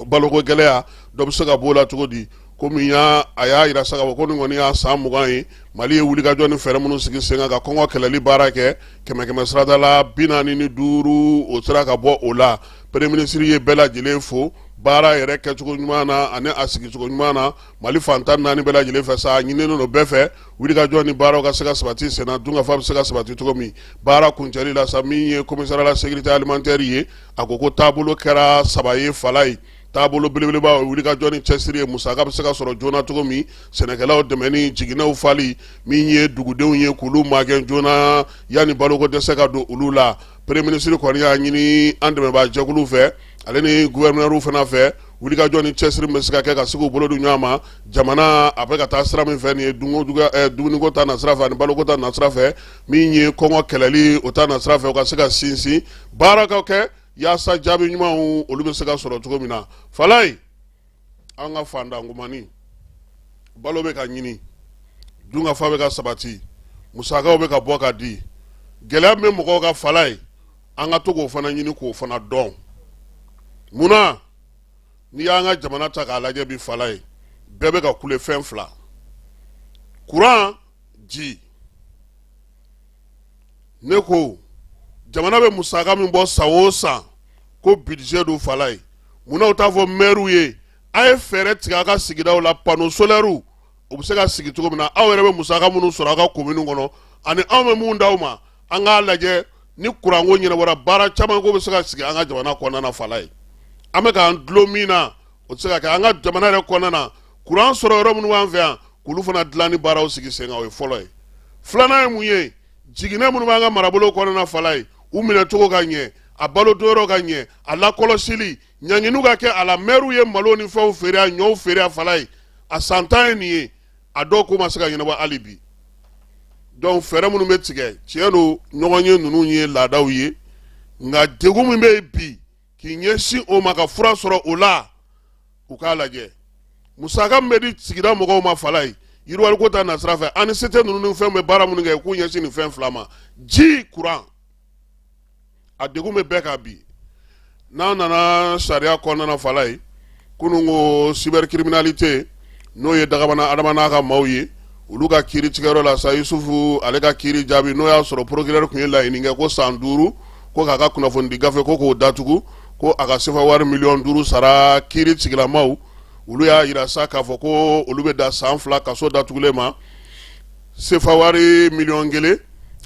baloko gɛlɛya dɔ bɛ se ka b'o la cogo di komi y'a a y'a yira sa k'a fɔ ko nin kɔni y'a san mugan ye mali ye wulikajɔ ni fɛɛrɛ minnu sigi sen kan ka kɔngɔ kɛlɛli baara kɛ kɛmɛ kɛmɛ sarada la bi naani ni duuru o sera ka bɔ o la premier ministre ye bɛɛ lajɛlen fo baara yɛrɛ kɛcogo ɲuman na ani a sigicogo ɲuman na mali fan tan naani bɛɛ lajɛlen fɛ sa a ɲininen don bɛɛ fɛ wulikajɔ ni baaraw ka se ka sabati senna dunkafa bɛ se ka sabati cogo min baara kuncɛli la sa min ye commissariat à la sécurité alimentaire ye a ko ko taabolo kɛra saba ye falaye taabolo belebeleba o wulikajɔ ni cɛsiri ye musaka bɛ se ka sɔrɔ joona cogo min sɛnɛkɛlaw dɛmɛni jiginɛw fali min ye dugudenw ye k'olu magɛn joona yanni baloko dɛsɛ ka don olu la premier ministre kɔni y'a ɲini an dɛmɛbaa jɛkulu fɛ ale ni gouverneurw fana fɛ wulikajɔ ni cɛsiri bɛ se ka kɛ ka se k'u bolo di ɲɔgɔn ma jamana a bɛ ka taa sira min fɛ nin ye eh, dumuniko ta nasira fɛ ani baloko ta nasira fɛ min ye kɔngɔ kɛlɛli o ta nasira fɛ o ka se ka sinsin baara ka kɛ yaasa jaabi ɲumanw olu bɛ se ka sɔrɔ cogo min na falaye an ka fantan kuma ni balo bɛ ka ɲini dunkafa bɛ ka sabati musakaw bɛ ka bɔ ka di gɛlɛya min bɛ mɔgɔw kan falaye an ka to k'o fana ɲini k'o fana dɔn munna n'i y'an ka jamana ta k'a lajɛ bi falaye bɛɛ bɛ ka kule fɛn fila kuran ji ne ko jamana bɛ musaka min bɔ san o san ko budget don falaye munna u t'a fɔ mɛriw ye a ye fɛɛrɛ tigɛ a ka sigidaw la panneau solaires u bɛ se ka sigi cogo min na aw yɛrɛ bɛ musaka minnu sɔrɔ a ka commune kɔnɔ ani anw bɛ mun d'aw ma an k'a lajɛ ni kuranko ɲɛnabɔra baara caman ko bɛ se ka sigi an ka jamana kɔnɔna na falaye an bɛ k'an dulon min na o tɛ se ka kɛ an ka jamana yɛrɛ kɔnɔna na kuran sɔrɔ yɔrɔ minnu b'an fɛ yan k'olu fana dilanni baaraw sigi sen kan o ye fɔlɔ ye filanan ye mun ye jiginɛ minnu b'an ka marabolo kɔnɔna falaye u minɛ cogo ka ɲɛ a balo donyɔrɔ ka ɲɛ a lakɔlɔsili ɲanginiw ka kɛ a la mɛriw ye malo ni fɛnw feere a ɲɔw feere a falaye a san tan ye nin ye a dɔw ko ma se ka ɲɛnabɔ hali bi donc fɛɛrɛ minnu bɛ tigɛ tiɲɛ don ɲɔgɔn ye ninnu ye laadaw ye nka degun min bɛ yen bi k'i ɲɛsin o ma ka fura sɔrɔ o la u k'a lajɛ musaka min bɛ di sigida mɔgɔw ma falaye yiriwaliko ta nasira fɛ ani sete ninnu ni fɛnw bɛ baara minnu kɛ k'u ɲɛsin nin fɛn fila ma ji kuran a degun bɛ bɛɛ kan bi n'an nana sariya kɔnɔna falaye kunun ko cybercriminalité n'o ye dagabana adama n'a ka maaw ye olu ka kiiri tigɛyɔrɔ la sa yusufu ale ka kiiri jaabi n'o y'a sɔrɔ procureur tun ye laɲini kɛ ko san duuru ko k'a ka kunnafonidi gafe ko k'o datugu ko a ka sefa wari miliyɔn duuru sara kiiri tigilamaw olu y'a yira sa k'a fɔ ko olu bɛ da san fila kaso datugulen ma sefa wari miliyɔn kelen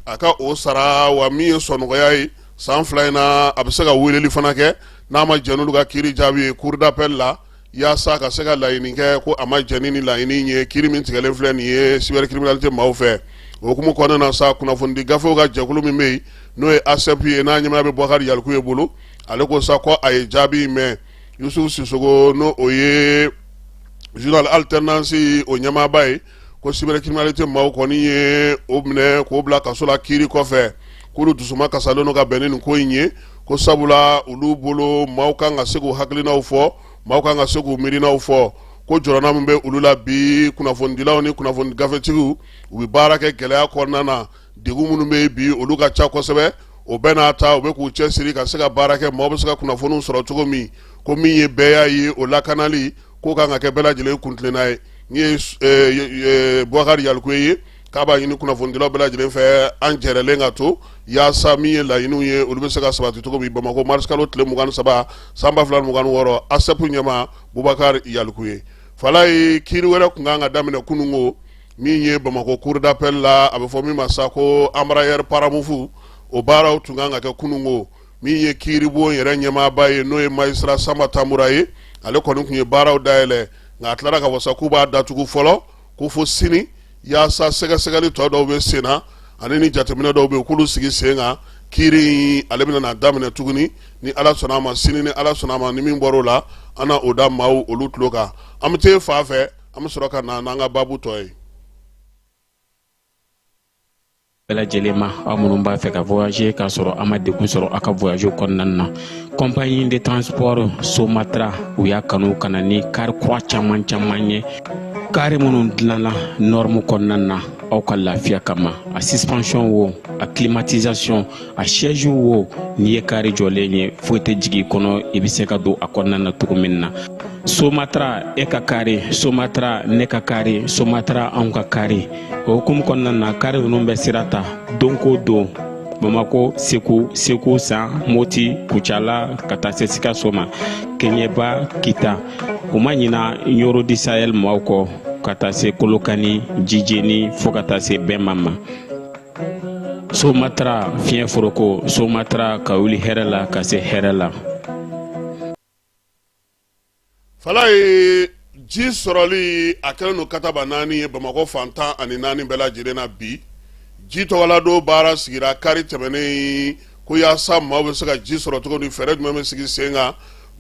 a ka o sara wa min ye sɔnɔgɔya ye san fila in na a bɛ se ka weleli fana kɛ n'a ma jɛn n'olu ka kiiri jaabi ye cour d'appel la yaasa ka se ka laɲini kɛ ko a ma jɛn ni laɲini ye kiri min tigɛlen filɛ nin ye cybercriminalité maaw fɛ o hukumu kɔnɔna na sa kunnafonidi gafew ka jɛkulu min bɛ yen n'o ye asɛpu ye n'a ɲɛmaaya bɛ bɔkari yalikuye bolo ale ko sa ko a ye jaabi in mɛn yusufu sisogo n'o o ye journal alternance o ɲɛmaaba ye ko cybercriminalité maaw kɔni ye o minɛ k'o bila kaso la kiiri kɔfɛ k'olu dusuma kasalen don ka bɛn ni nin ko in ye ko sabula olu bolo maaw kan ka se k'u hakilinaw fɔ maaw kan ka se k'u miirinaw fɔ ko jɔrɔna min bɛ olu la bi kunnafonidilaw ni kunnafoni gafetigiw u bɛ baara kɛ gɛlɛya kɔnɔna na degun minnu bɛ bi olu ka ca kosɛbɛ o bɛɛ n'a ta u bɛ k'u cɛsiri ka se ka baara kɛ maaw bɛ se ka kunnafoniw sɔrɔ cogo min ko min ye bɛɛya ye o lakanali k'o kan ka kɛ bɛɛ lajɛlen kuntilenna ye min ye eh, bubakari yalikuye ye k'a b'a ɲini kunnafonidilaw bɛɛ lajɛlen fɛ an jɛrɛlen ka to yaasa min ye laɲiniw ye olu bɛ se ka sabati cogo min bamakɔ marisikalo tile mugan ni saba san ba fila ni mugan ni wɔɔrɔ asɛpu ɲɛmaa bubakari yalikuye falaye kiiri wɛrɛ tun kan ka daminɛ kunun ko min ye bamakɔ cour d'appel la a bɛ fɔ min ma sa ko embraer paramount o baaraw tun kan ka kɛ kunun ko min ye kiiribon yɛrɛ ɲɛmaaba ye n'o ye magistrat sanba tanbura ye ale kɔni tun ye baaraw dayɛlɛ nka a tilara k'a fɔ sa k'u b'a datugu fɔlɔ ko fo sini yaasa sɛgɛsɛgɛli tɔ dɔw bɛ sen na ani ni jateminɛ dɔw bɛ yen k'olu sigi sen kan kiiri ale bɛna na daminɛ tuguni ni ala sɔnna a ma sini ni ala sɔnna a ma ni min bɔra o la an na o da maaw olu tulo kan an bɛ taa fa fɛ an bɛ sɔrɔ ka na n'an ka baabu tɔ ye bɛɛ lajɛlen ma aw minnu b'a fɛ ka voyager k'a sɔrɔ a ma degun sɔrɔ a ka voyage kɔnɔna na compagnie de transport somatra u y'a kanu ka na ni kari kura caman caman ye kari minnu dilanna norme kɔnɔna na aw ka lafiya kama a suspension wo a climatisation a siège wo n'i ye kari jɔlen ye foyi tɛ jigin kɔnɔ i bɛ se ka don a kɔnɔna na cogo min na somatra e ka kari somatra ne ka kari somatra anw ka kari o hukumu kɔnɔna na kari ninnu bɛ sira ta don ko don bamako segu segu san moti kucala ka taa se sikaso ma keɲɛba kita u ma ɲina ɲoro di sahɛl maaw kɔ ka taa se kolokani jijeni fo ka taa se bɛma ma somatra fiɲɛ foroko somatra ka wuli hɛrɛ la ka se hɛrɛ la falaye ji sɔrɔli a kɛlen don katabanaani ye bamakɔ fan tan ani naani bɛɛ lajɛlen na bi ji tɔgɔla don baara sigira kari tɛmɛnen in ko yaasa maaw bɛ se ka ji sɔrɔ cogo min fɛɛrɛ jumɛn bɛ sigi sen kan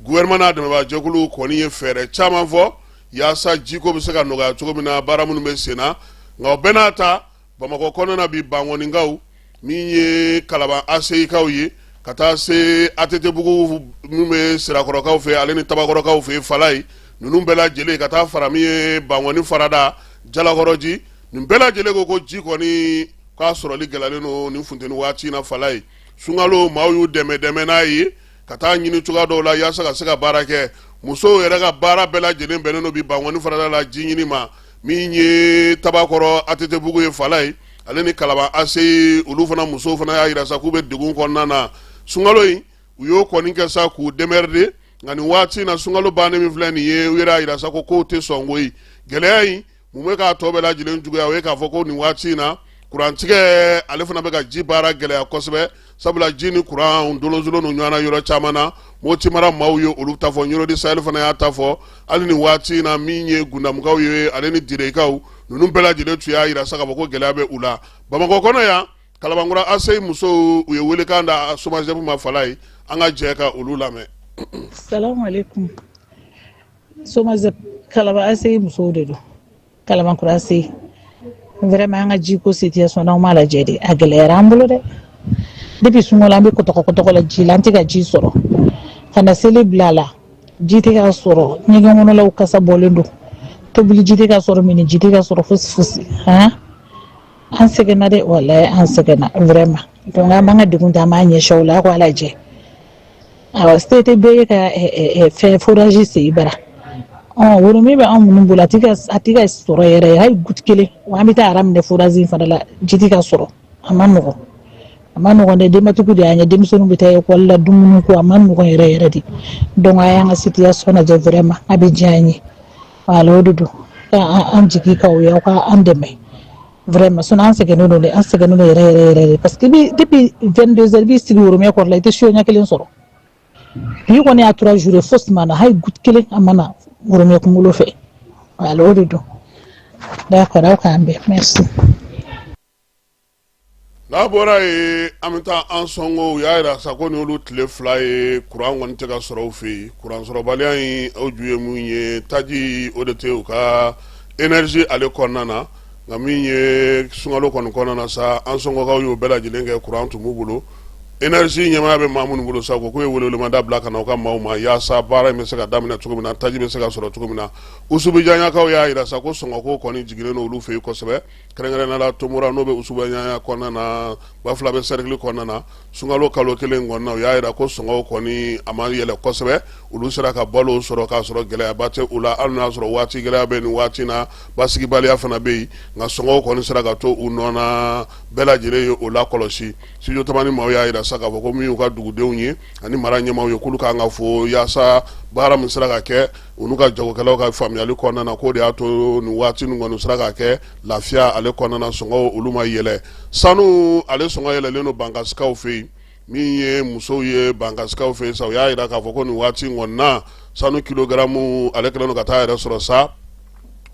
gouvernement n'a dɛmɛbaajɛkulu kɔni ye fɛɛrɛ caman fɔ yaasa jiko bɛ se ka nɔgɔya cogo min na baara minnu bɛ sen na nka o bɛɛ n'a ta bamakɔ kɔnɔna bi bankɔninkaw min ye kalaban aseyikaw ye ka taa se atetebugu min bɛ sirakɔrɔkaw fɛ ale ni tabakɔrɔkaw fɛ falaye ninnu bɛɛ lajɛlen ka taa fara min ye bankɔni farada jalakɔrɔji ninnu bɛɛ lajɛlen ko ko ji kɔni k'a sɔrɔli gɛlɛyalen don nin funteni waati na falaye sunkalo maaw y'u dɛmɛ dɛmɛ n'a ye ka taa ɲini cogoya dɔw la yaasa ka se ka baara kɛ musow yɛrɛ ka baara bɛɛ lajɛlen bɛnnen don bi bankɔni farada la ji ɲini ma min ye tabakɔrɔ atetebugu ye falaye ale ni kalaban aseyi olu fana musow fana y'a yira sa k'u bɛ degun kɔnɔna na sunkalo in u y'o kɔni kɛ sa k'u démerder nka nin waati in na sunkalo bannen min filɛ nin ye u yɛrɛ y'a yira sa ko k'u tɛ sɔn koyi gɛlɛya in mun bɛ k'a tɔ bɛɛ lajɛlen juguya o ye k'a fɔ ko nin waati in na kurantigɛ ale fana bɛ ka ji baara gɛlɛya kosɛbɛ sabula ji ni kuran dolonzolonnen don ɲɔgɔn na yɔrɔ caman na moti mara maaw ye olu ta fɔ ɲoro di sahɛl fana y'a ta fɔ hali nin waati in na min ye gundamukaw ye ale ni direkaw ninnu bɛɛ lajɛlen tun y'a yira sa k'a fɔ ko gɛlɛya bɛ u la bamakɔ kɔnɔ yan kalabankura aseyi musow u ye weelekan da somagep ma falaye an ka jɛ ka olu lamɛn somagep kalaban aseyi musow de don kalabankura aseyi vraiment an ka jiko situation n'aw m'a lajɛ de a gɛlɛyara an bolo dɛ depuis sunkalo la an bɛ kɔtɔkɔkɔtɔkɔ la ji la an tɛ ka ji sɔrɔ ka na seli bila a la ji tɛ ka sɔrɔ ɲɛgɛn kɔnɔlaw kasa bɔlen don tobili ji tɛ ka sɔrɔ minni ji tɛ ka sɔrɔ fosi fosi han an sɛgɛnna dɛ walayi an sɛgɛnna vraiment donc an b'an ka degun ta an b'a ɲɛsin aw la aw k'a lajɛ Awɔ se tɛ bɛɛ ye ka fɛn forage sen i bara woromɛ bɛ anw minnu bolo a a tɛ ka sɔrɔ yɛrɛ hali goutte kelen wa an bɛ taa rang minɛ forage in fana la ji tɛ ka sɔrɔ a ma nɔgɔ a ma nɔgɔ dɛ denbatigiw de y'an ye denmisɛnninw bɛ taa lekɔli la dumuni ko a ma nɔgɔ yɛrɛ yɛrɛ de donc a y'an ka situation lajɛ vraiment a bɛ diya an ye o de don an jigi k'aw ye aw ka an dɛmɛ vraiment sinon an sɛgɛnnen don dɛ an sɛgɛnnen don yɛrɛ yɛrɛ yɛrɛ de parce que depuis 22 heures i b'i sigi woromɛ kɔrɔ la i tɛ so ɲɛ kelen sɔrɔ bi kɔni y'a trois jours ye fosi ma na hali goutte kelen a ma na woromɛ kunkolo fɛ voilà o de don d'accord aw k'an bɛn merci n'an bɔra yen an bɛ taa ansɔngo u y'a jira sa ko ni olu tile fila ye kuran kɔni tɛ ka sɔrɔ u fɛ yen kuransɔrɔbaliya in o ju ye mun ye taji o de tɛ u ka énergie ale kɔnɔna na nka min ye sunkalo kɔni kɔnɔna na sa ansɔngokaw y'o bɛɛ lajɛlen kɛ kuran tun b'u bolo énergie ɲɛmaaya bɛ maa minnu bolo sa ko k'u ye weleweleda bila ka na u ka maaw ma yaasa baara in bɛ se ka daminɛ cogo min na taji bɛ se ka sɔrɔ cogo min na usubijanɲakaw y'a jira sa ko sɔngɔko kɔni jiginnen olu fɛ yen kosɛbɛ kɛrɛnkɛrɛnnenya la tomora n'o bɛ usubijanɲa kɔnɔna na bafulabɛ serikili kɔnɔna na sunkalo kalo kelen kɔnɔna u y'a jira ko sɔngɔw kɔni a ma yɛlɛ kosɛbɛ olu sera ka balo sɔrɔ k'a sɔrɔ gɛlɛyaba tɛ u la hali n'a sɔrɔ waati gɛlɛya bɛ nin waati na basigibaliya fana bɛ yen nka sɔngɔw kɔni sera ka to u nɔ na bɛɛ lajɛlen ye o la kɔlɔsi studio tamani maaw y'a jira sa k'a fɔ ko min y'u ka dugudenw ye ani mara ɲɛmaaw ye k'olu kan ka fo yaasa baara min sera ka kɛ u n'u ka jagokɛlaw ka faamuyali kɔnɔna na k'o de y'a to nin waati nin kɔni sera ka kɛ lafiya ale kɔnɔna na sɔngɔw olu ma yɛlɛ sanu ale sɔngɔ yɛlɛlen don bankasikaw fɛ yen min ye musow ye bankasikaw fɛ yen sa u y'a jira k'a fɔ ko nin waati in kɔni na sanu kilogaramu ale kɛlen don ka taa yɛrɛ sɔrɔ sa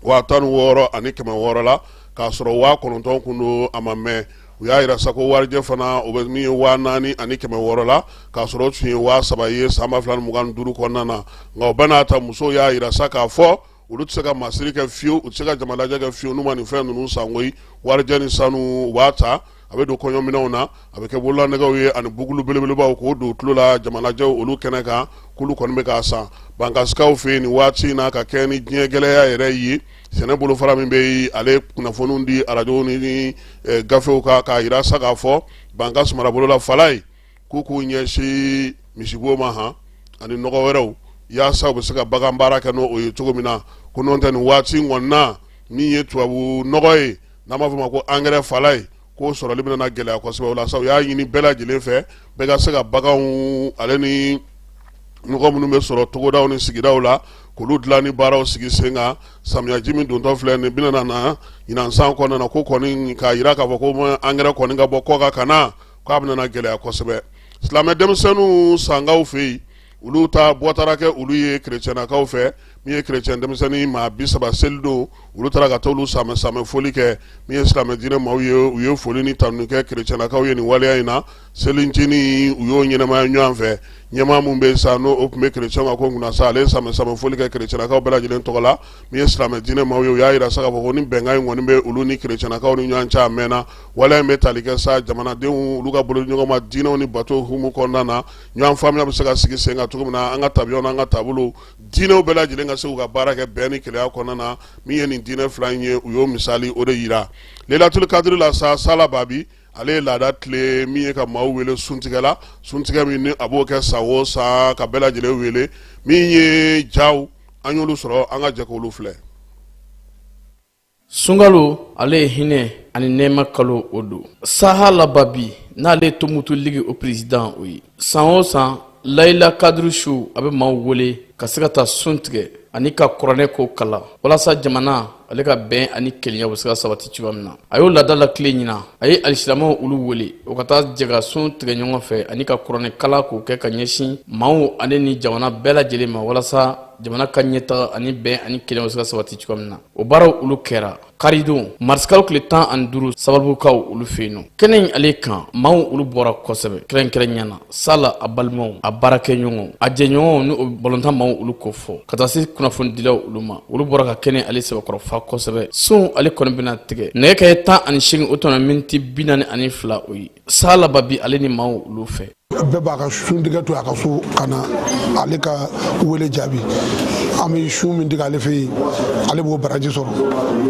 waa tan ni wɔɔrɔ ani kɛmɛ wɔɔrɔ la k'a sɔrɔ waa kɔnɔntɔn kun don a ma mɛn u y'a jira sa ko warijɛ fana o bɛ min ye waa naani ani kɛmɛ wɔɔrɔ la k'a sɔrɔ o tun ye waa saba ye san ba fila ni mugan ni duuru kɔnɔna na nka o bɛɛ n'a ta musow y'a jira sa k'a fɔ olu tɛ se ka masiri kɛ fiyewu u tɛ se ka jamalajɛ kɛ fiyewu n'u ma nin fɛn ninnu san koyi warijɛ ni sanu u b'a ta a bɛ don kɔɲɔminɛnw na a bɛ kɛ bololanɛgɛw ye ani bugulu belebelebaw k'o don tulo la jamalajɛw olu kɛnɛ kan k'olu kɔni bɛ k'a san bankasikaw fɛ yen nin waati in na ka kɛɲɛ ni diɲɛ gɛlɛya yɛrɛ ye sɛnɛ bolofara min bɛ yen ale kunnafoniw di arajow ni gafew kan k'a jira sa k'a fɔ bankasi marabolo la falayi k'u k'u ɲɛsin misibo ma han ani nɔgɔ wɛrɛw yaasa u bɛ se ka bagan baara kɛ n'o ye cogo min na ko n'o tɛ nin waati in kɔni na min ye tubabu nɔgɔ ye n'an b'a fɔ a ma ko angɛrɛ falayi k'o sɔrɔli bɛna na gɛlɛya kosɛbɛ o la sa u y'a ɲini bɛɛ lajɛlen fɛ bɛɛ ka se ka baganw ale ni nɔgɔ minnu bɛ sɔrɔ togodaw ni sigidaw la k'olu dilan ni baaraw sigi sen kan samiyaji min dontɔ filɛ nin bɛna na ɲinan san kɔnɔna na ko kɔni k'a jira k'a fɔ ko angɛrɛ kɔni ka bɔ kɔkan ka na k'a bɛna gɛlɛya kosɛbɛ silamɛ denmisɛnninw sankaw fɛ yen olu ta bɔtara kɛ olu ye krecɛnakaw fɛ min ye krecɛn denmisɛnnin maa bi saba seli don olu taara ka taa olu samɛ samɛ foli kɛ min ye silamɛ diinɛ maaw ye u ye foli ni tanuni kɛ krecɛnakaw ye nin waleya in na selincinin u y'o ɲɛnamaya ɲɔgɔn fɛ ɲɛmaa min bɛ sa n'o tun bɛ krecɛnw ka ko kunna sa ale ye samɛ samɛ foli kɛ krecɛnakaw bɛɛ lajɛlen tɔgɔ la min ye silamɛ diinɛ maaw ye u y'a jira sa k'a fɔ ko ni bɛnkan in kɔni bɛ olu ni krecɛnakaw ni ɲɔgɔn cɛ a mɛnna waleya in bɛ tali kɛ sa jamanadenw olu ka bolo di ɲɔgɔn ma diinɛw ni bato hukumu kɔnɔna na ɲɔgɔn faamuya bɛ se ka sigi sen kan cogo min na an ka tabiya n'an ka taabolo diinɛw bɛɛ lajɛlen ka se k'u ka baara kɛ bɛn ni kelenya kɔnɔna na min ye nin diinɛ fila in ye u y'o misali o de yira lelatuli kadiri la sa sala babi ale ye laada tilen min ye ka maaw wele suntigɛ la suntigɛ min ni a b'o kɛ san o san ka bɛɛ lajɛlen wele min ye jaw an y'olu sɔrɔ an ka jɛ k'olu filɛ sunkalo ale ye hinɛ ani nɛɛma kalo o don sahala babi n'ale ye tomutu ligi o peresidan o ye san o san layila kadiri su a bɛ maaw wele ka se ka taa sun tigɛ ani ka kuranɛ ko kalan walasa jamana ale ka bɛn ani kelenya bɛ se ka sabati cogoya min na a y'o laada lakilen ɲinan a ye alisilamɛw olu wele u ka taa jɛ ka sun tigɛ ɲɔgɔn fɛ ani ka kuranɛ kalan k'o kɛ ka ɲɛsin maaw ale ni jamana bɛɛ lajɛlen ma walasa jamana ka ɲɛtaga ani bɛn ani kelenya bɛ se ka sabati cogoya min na o baaraw olu kɛra karidon marisikalo tile tan ani duuru sababukaw olu fɛ yen n'o kɛnɛ in ale kan maaw olu bɔra kosɛbɛ kɛrɛnkɛrɛnya na sala a balimaw a baarakɛɲɔgɔnw a jɛɲɔgɔnw ni o balontan maaw olu kofɔ ka taa se kunnafonidilaw olu ma olu bɔra ka kɛnɛ ale sɛbɛkɔrɔ fa kosɛbɛ sun ale kɔni bɛna tigɛ nɛgɛ kanɲɛ tan ani seegin o tɔnɔ miniti bi naani ani fila o ye sala babi ale ni maaw olu fɛ bɛɛ b'a ka sun tigɛ to a ka so ka na ale ka wele jaabi an bɛ sun min tigɛ ale fɛ yen ale b'o baraji sɔrɔ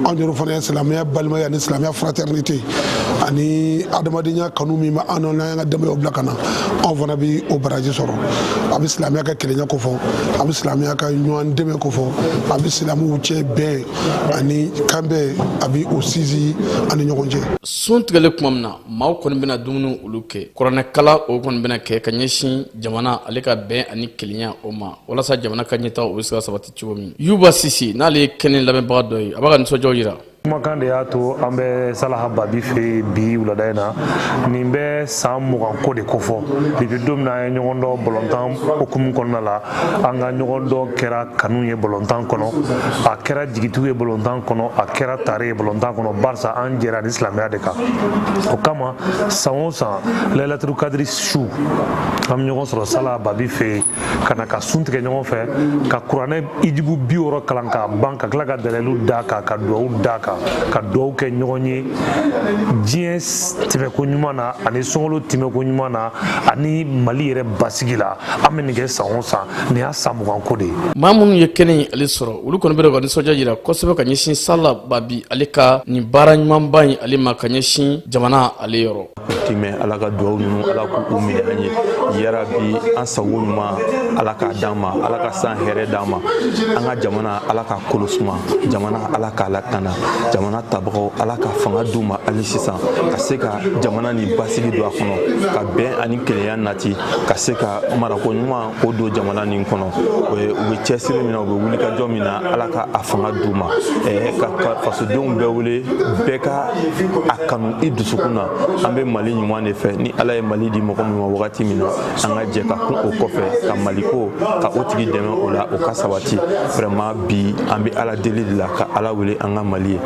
anw yɛrɛ fana ye silamɛya balimaya ani silamɛya fraternité ani adamadenya kanu min bɛ an n'an ka denbayaw bila ka na anw fana bɛ o baraji sɔrɔ a bɛ silamɛya ka kelenya kofɔ a bɛ silamɛya ka ɲɔgɔn dɛmɛ kofɔ a bɛ silamɛw cɛ bɛn ani kanbɛn a bɛ o sinsin an ni ɲɔgɔn cɛ. sun tigɛlen tuma min na maaw kɔni bɛna dumuni olu kɛ kuranɛkalan o kɔni bɛna kɛ ka ɲɛsin jamana ale ka bɛn ani kelenya o ma walasa jamana ka ɲɛtaga o bɛ se ka sabati cogo min yuba sise n'ale ye kɛnɛ lamɛnbaga dɔ ye a b'a ka nisɔndiyaw jira kumakan de y'a to an bɛ salaha babi fɛ bi wulada in na nin bɛ san mugan ko de kofɔ depuis don min na an ye ɲɔgɔn dɔn balontan hukumu kɔnɔna la an ka ɲɔgɔn dɔn kɛra kanu ye balontan kɔnɔ a kɛra jigitugu ye balontan kɔnɔ a kɛra tare ye balontan kɔnɔ barisa an jɛra ni silamɛya de kan o kama san o san layilaturu kadiri su an bɛ ɲɔgɔn sɔrɔ sala babi fɛ ka na ka sun tigɛ ɲɔgɔn fɛ ka kuranɛ ijibu bi wɔɔrɔ kalan k'a ban ka tila ka dalilu d'a kan ka duwawu d'a kan ka duwawu kɛ ɲɔgɔn ye diɲɛ tɛmɛko ɲuman na ani sunkalo tɛmɛko ɲuman na ani mali yɛrɛ basigi la an bɛ nin kɛ san o san nin y'a san mugan ko de ye maa minnu ye kɛnɛ in ale sɔrɔ olu kɔni bɛ ka nisɔndiya jira kosɛbɛ ka ɲɛsin sala babi ale ka nin baara ɲumanba in ale ma ka ɲɛsin jamana ale yɔrɔ timɛ ala ka duwaw ninnu ala k'u minɛ an ye yarabi an sago ɲuman ala k'a d'an ma ala ka san hɛrɛ d'an ma an ka jamana ala k'a kolo suma jamana ala k'a lakana jamana tabagaw ala ka fanga d'u ma hali sisan ka se ka jamana nin basigi don a kɔnɔ ka bɛn ani kelenya na ti ka se ka marako ɲuman k'o don jamana nin kɔnɔ u bɛ cɛsiri min na u bɛ wulikajɔ min na ala ka a fanga d'u ma ka fasodenw bɛɛ wele bɛɛ ka a kanu i dusukun na an bɛ mali ɲuman de fɛ ni ala ye mali di mɔgɔ min ma wagati min na an ka jɛ ka kun o kɔfɛ ka maliko ka o tigi dɛmɛ o la o ka sabati vraiment bi an bɛ ala deli de la ka ala wele an ka mali ye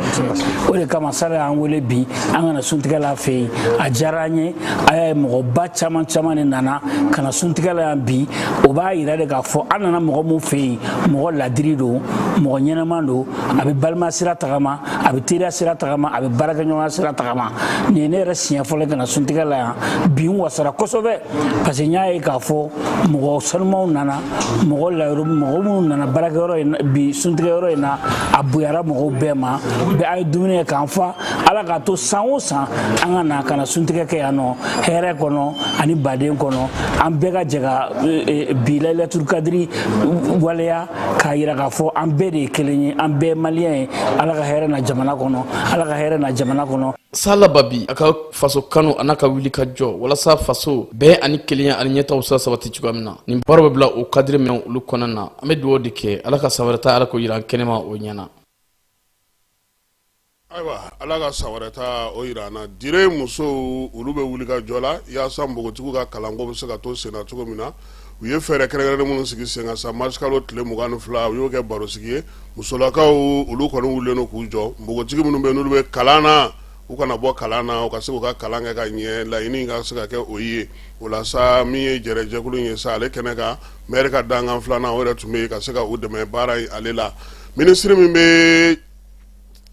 o de kama sala y'an wele bi an ka na suntigɛ la a fɛ yen a diyara an ye a y'a ye mɔgɔba caman caman de nana ka na suntigɛ la yan bi o b'a yira de k'a fɔ an nana mɔgɔ min fɛ yen mɔgɔ ladiri don mɔgɔ ɲɛnama don a bɛ balima sira tagama a bɛ teriya sira tagama a bɛ baarakɛɲɔgɔnya sira tagama nin ye ne yɛrɛ siɲɛ fɔlɔ ka na suntigɛ la yan bi n wasara kosɛbɛ parce que n y'a ye k'a fɔ mɔgɔ sanumaw nana mɔgɔ layɔrɔ mɔgɔ minnu nana baarakɛyɔrɔ in bi suntigɛyɔrɔ in na a bonyara mɔgɔw bɛɛ ma bɛɛ an ye dumuni kɛ k'an fa ala k'a to san o san an ka na ka na suntigɛ kɛ yan nɔ hɛrɛ kɔnɔ ani baden kɔnɔ an bɛɛ ka jɛ ka bi layilaturu kadiri waleya k'a yira k'a fɔ an bɛɛ de ye kelen ye an bɛɛ maliyɛn ye ala ka hɛrɛ na jamana kɔnɔ ala ka hɛrɛ na jamana kɔnɔ sala babi a ka faso kanu an'a ka wulikajɔ walasa faso bɛn ani kelenya ani ɲɛtaa sa sabati cogoya min na nin baaraw bɛ bila o kadiri minnu olu kɔnɔna na an bɛ dugawu de kɛ ala ka san wɛrɛ ta ala k'o yira an kɛnɛma o ɲɛna Ayiwa ala ka san wɛrɛ ta o jira an na dire musow olu bɛ wulikajɔ la yaasa npogotigiw ka kalanko bɛ se ka to sen na cogo min na u ye fɛɛrɛ kɛrɛnkɛrɛnnen minnu sigi sen kan sa marisikalo tile mugan fila u y'o kɛ barosigi ye musolakaw olu kɔni wulilen don k'u jɔ npogotigi minnu bɛ n'olu bɛ kalan na u kana bɔ kalan na u ka se k'u ka kalan kɛ ka ɲɛ laɲini ka se ka kɛ o ye o la sa min ye jɛjɛkulu ye sa ale kɛnɛ kan mɛri ka dankan filanan yɛrɛ tun bɛ yen ka se ka u dɛmɛ baara in ale la minisiri min bɛ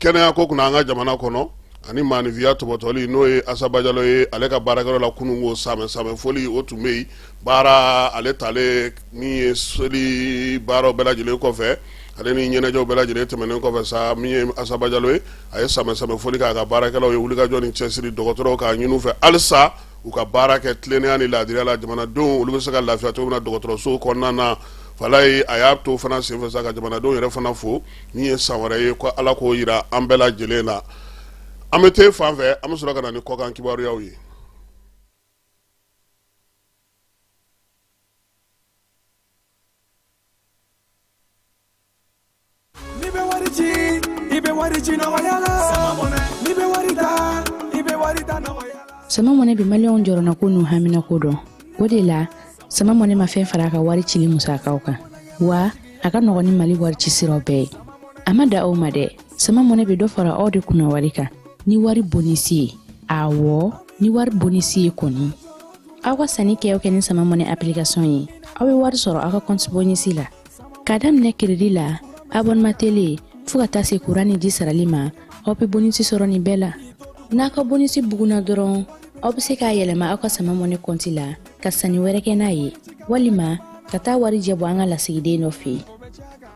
kɛnɛya ko kunna an ka jamana kɔnɔ ani maaninfinya tɔpɔtɔli n'o ye asa bajalo ye ale ka baarakɛyɔrɔ la kunun ko sanbɛɛ foli o tun bɛ yen baara ale taale min ye seli baaraw bɛɛ lajɛlen kɔfɛ ale ni ɲɛnajɛw bɛɛ lajɛlen tɛmɛnen kɔfɛ sa min ye asa bajalo ye a ye sanbɛɛ foli k'a ka baarakɛlaw ye wulikajɔ ni cɛsiri dɔgɔtɔrɔw k'a ɲini u fɛ halisa u ka baara kɛ tilennenya ni laadiriya la jamanadenw olu bɛ se ka lafiya cogo min na dɔgɔtɔrɔsow kɔnɔna na falaye a y'a to fana senfɛ ka jamanadenw yɛrɛ fana fo min ye san wɛrɛ ye ko ala k'o yira an bɛɛ lajɛlen na an bɛ te fan fɛ an bɛ sɔrɔ ka na ni kɔkan kibaruyaw ye n'i bɛ wari ci i bɛ wari ci nɔgɔya la n'i bɛ wari ta i bɛ wari ta nɔgɔya la sama mɔnɛ bi maliyɛnw jɔrɔnako n'u haminako dɔn o de la sama mɔne ma fɛn fara a ka wari cili musakaw kan wa a ka nɔgɔn ni mali wari ci siraw bɛɛ ye a ma dan o ma dɛ sama mɔne bɛ dɔ fara aw de kunna wari kan ni wari bonisi ye awɔ ni wari bonisi ye kɔni aw ka sanni kɛ kɛ ni sama mɔne application ye aw bɛ wari sɔrɔ aw ka kɔnti bonisi la k'a daminɛ keredi la abɔnema tele fɔɔ ka taa se kuran ni ji sarali ma aw bɛ bonisi sɔrɔ nin bɛɛ la n'a ka bonisi bugunna dɔrɔn aw bɛ se k'a yɛlɛma aw ka sama mɔne kɔnti la ka sanni wɛrɛ kɛ n'a ye walima ka taa warijɛ bɔ an ka lasigiden dɔ fɛ yen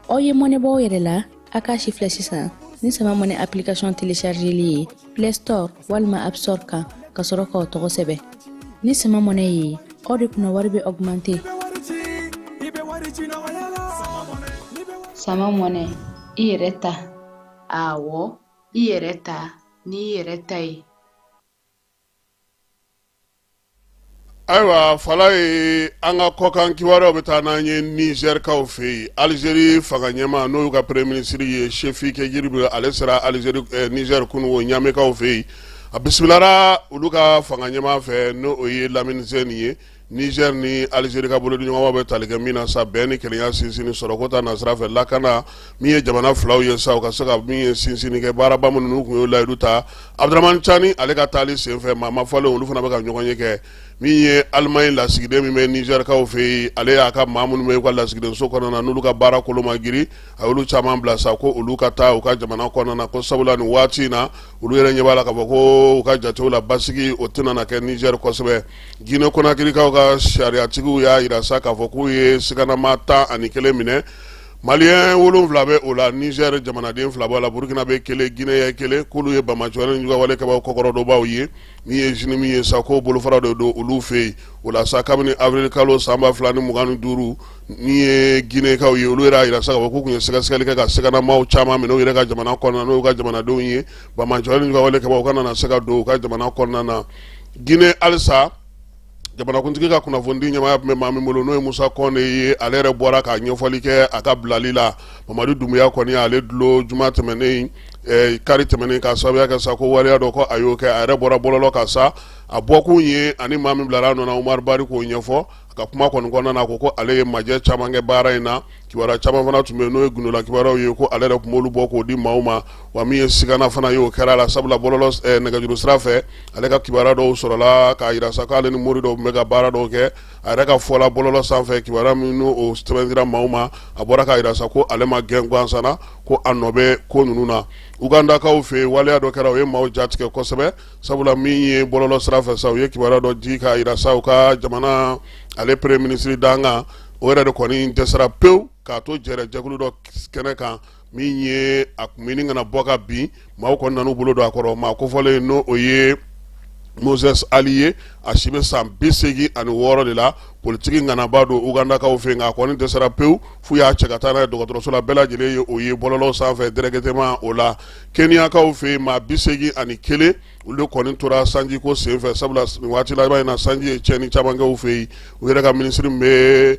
aw ye mɔnɛ bɔ aw yɛrɛ la a k'a sifilɛ sisan ni sama mɔnɛ application telechargeli ye play store walima app store kan ka sɔrɔ k'aw tɔgɔ sɛbɛn ni sama mɔnɛ ye aw de kunna wari bɛ augmente sama mɔnɛ i yɛrɛ ta awɔ i yɛrɛ ta n'i yɛrɛ ta ye ayiwa falaye an ka kɔkan kibaruyaw bɛ taa n'an ye nizɛrikaw fɛ yen alizeri fanga ɲɛmaa n'o y'u ka premier minisiri ye sifi ghrieb ale sera alizeri eh, nizɛri kunun o ɲamekaw fɛ yen a bisimilara olu ka fanga ɲɛmaa fɛ n'o ye lamini zɛni ye Niger ni Algerie ka bolodiɲɔgɔnmaw bɛ tali kɛ min na sa bɛn ni kelenya sinsinni sɔrɔko ta nasira fɛ lakana min ye jamana filaw ye sa u ka se ka min ye sinsinni kɛ baaraba minnu n'u tun y'o layidu ta Abdramane Tchani ale ka taali senfɛ maa ma fɔlen olu fana bɛ ka ɲɔgɔnye kɛ min ye Allemagne lasigiden min bɛ Nizɛrikaw fɛ yen ale y'a ka maa minnu bɛ u ka lasigidenso kɔnɔna na n'olu ka baara kolo ma girin a y'olu caman bila sa ko olu ka taa u ka jamana kɔnɔna na ko sabula nin waati in na olu yɛrɛ ɲɛ b'a la k'a fɔ ko u ka jatew la basigi o tɛna na kɛ Nizɛri kosɛbɛ Gine Konakirikaw ka sariyatigiw y'a jira sa k'a fɔ k'u ye siganama tan ani kelen minɛ malien wolonwula bɛ o la Nizɛri jamanaden fila b'o la burukinabɛ kelen guinéen kelen k'olu ye bamajɔ juguwale kɛbaw kɔkɔrɔdonbaw ye min ye JNIM ye sa ko bolofara dɔ don olu fɛ yen o la sa kabini avril kalo sanba fila ni mugan ni duuru min ye ginɛkaw ye olu yɛrɛ y'a jira sa k'u tun ye sɛgɛsɛgɛli kɛ ka siganama caman minɛ u yɛrɛ ka jamana kɔnɔna n'u ka jamanadenw ye bamajɔ juguwale kɛbaw kana se ka don u ka jamana kɔnɔna na gine halisa jamanakuntigi ka kunnafoni ɲɛmaaya tun bɛ maa min bolo n'o ye musa kɔnde ye ale yɛrɛ bɔra ka ɲɛfɔli kɛ a ka bilali la mamadu dunbuya kɔni ale dulon juma tɛmɛnen eh, kari tɛmɛnen ka sababuya kɛ sa ko waleya dɔ ko a y'o kɛ a yɛrɛ bɔra bɔlɔlɔ kan sa a bɔkun ye ani maa min bilara a nɔ na umari bari k'o ɲɛfɔ ka kuma kɔni kɔnɔna na ko ko ale ye majɛ caman kɛ baara in na kibaruya caman fana tun bɛ yen n'o ye gundola kibaruyaw ye ko ale yɛrɛ tun b'olu bɔ k'o di maaw ma wa min ye sigana fana ye o kɛra a la sabula bɔlɔlɔ eh, nɛgɛjuru sira fɛ ale ka kibaruya dɔw sɔrɔla k'a jira sa k'ale ni mori dɔw tun bɛ ka baara dɔw kɛ a yɛrɛ ka fɔla bɔlɔlɔ sanfɛ kibaruya min n'o sɛbɛn dira maaw ma a bɔra k'a jira sa ko ale ma gɛn gansan na ko a nɔ bɛ ko ninnu na ugandakaw fɛ yen waleya dɔ kɛra o ye maaw ja tigɛ kosɛbɛ sabula min ye bɔlɔlɔ sira fɛ sa u ye kibaruya dɔ di k'a jira sa u ka jamana ale premier ministre dankan o yɛrɛ de kɔni dɛsɛra pewu k'a to jɛrɛ jɛkulu dɔ kɛnɛ kan min ye a kun mini ka na bɔ ka bin maaw kɔni nan'u bolo don a kɔrɔ maa kofɔlen n'o o ye moses ali ye a si bɛ san bi seegin ani wɔɔrɔ de la politiki ŋanaba don ugandakaw fɛ nka a kɔni dɛsɛra pewu f'u y'a cɛ ka taa n'a ye dɔgɔtɔrɔso la bɛɛ lajɛlen ye o ye bɔlɔlɔ sanfɛ directement o la Keniyakaw fɛ yen maa bi segin ani kelen olu de kɔni tora sanji ko senfɛ sabula waati laban in na sanji ye tiɲɛni caman kɛ u fɛ yen u yɛrɛ ka minisiri min bɛ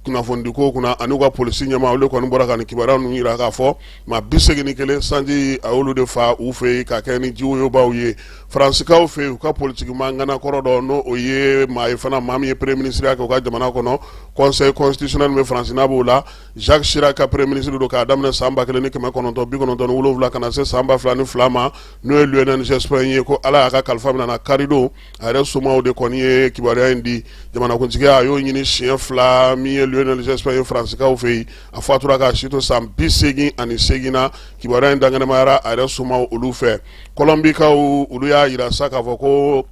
kunnafonidi ko kunna ani u ka polisi ɲɛmaa olu kɔni bɔra ka kibaruya ninnu jira k'a fɔ maa bi segin ni kelen sanji y'olu de fa u fɛ yen ka kɛ ni jiwoyoba ye faransikaw fɛ yen u ka politiki maa ŋana kɔrɔ dɔ n'o o ye maa ye fana maa min ye premier minisiriya kɛ u ka jamana kɔnɔ conseil constitutionnel bɛ faransi n'a b'o la Jacques Chirac ka premier ministre don k'a daminɛ sanba kelen ni kɛmɛ kɔnɔntɔn bi kɔnɔntɔn ni wolonwula ka na se sanba fila ni fila ma n'o ye Lionel Jospin ye ko ala y'a ka kalifa minɛ na kari don a yɛrɛ somaw de kɔni ye kibaruya in di jamanakuntigiya a y'o ɲini siɲɛ fila min ye Lionel Jospin ye faransikaw fɛ yen a fatura k'a si to san bi segin ani segin na kibaruya in dankɛnɛmayara a yɛrɛ somaw olu fɛ kɔlɔnbikaw olu y'a jira sa k'a fɔ ko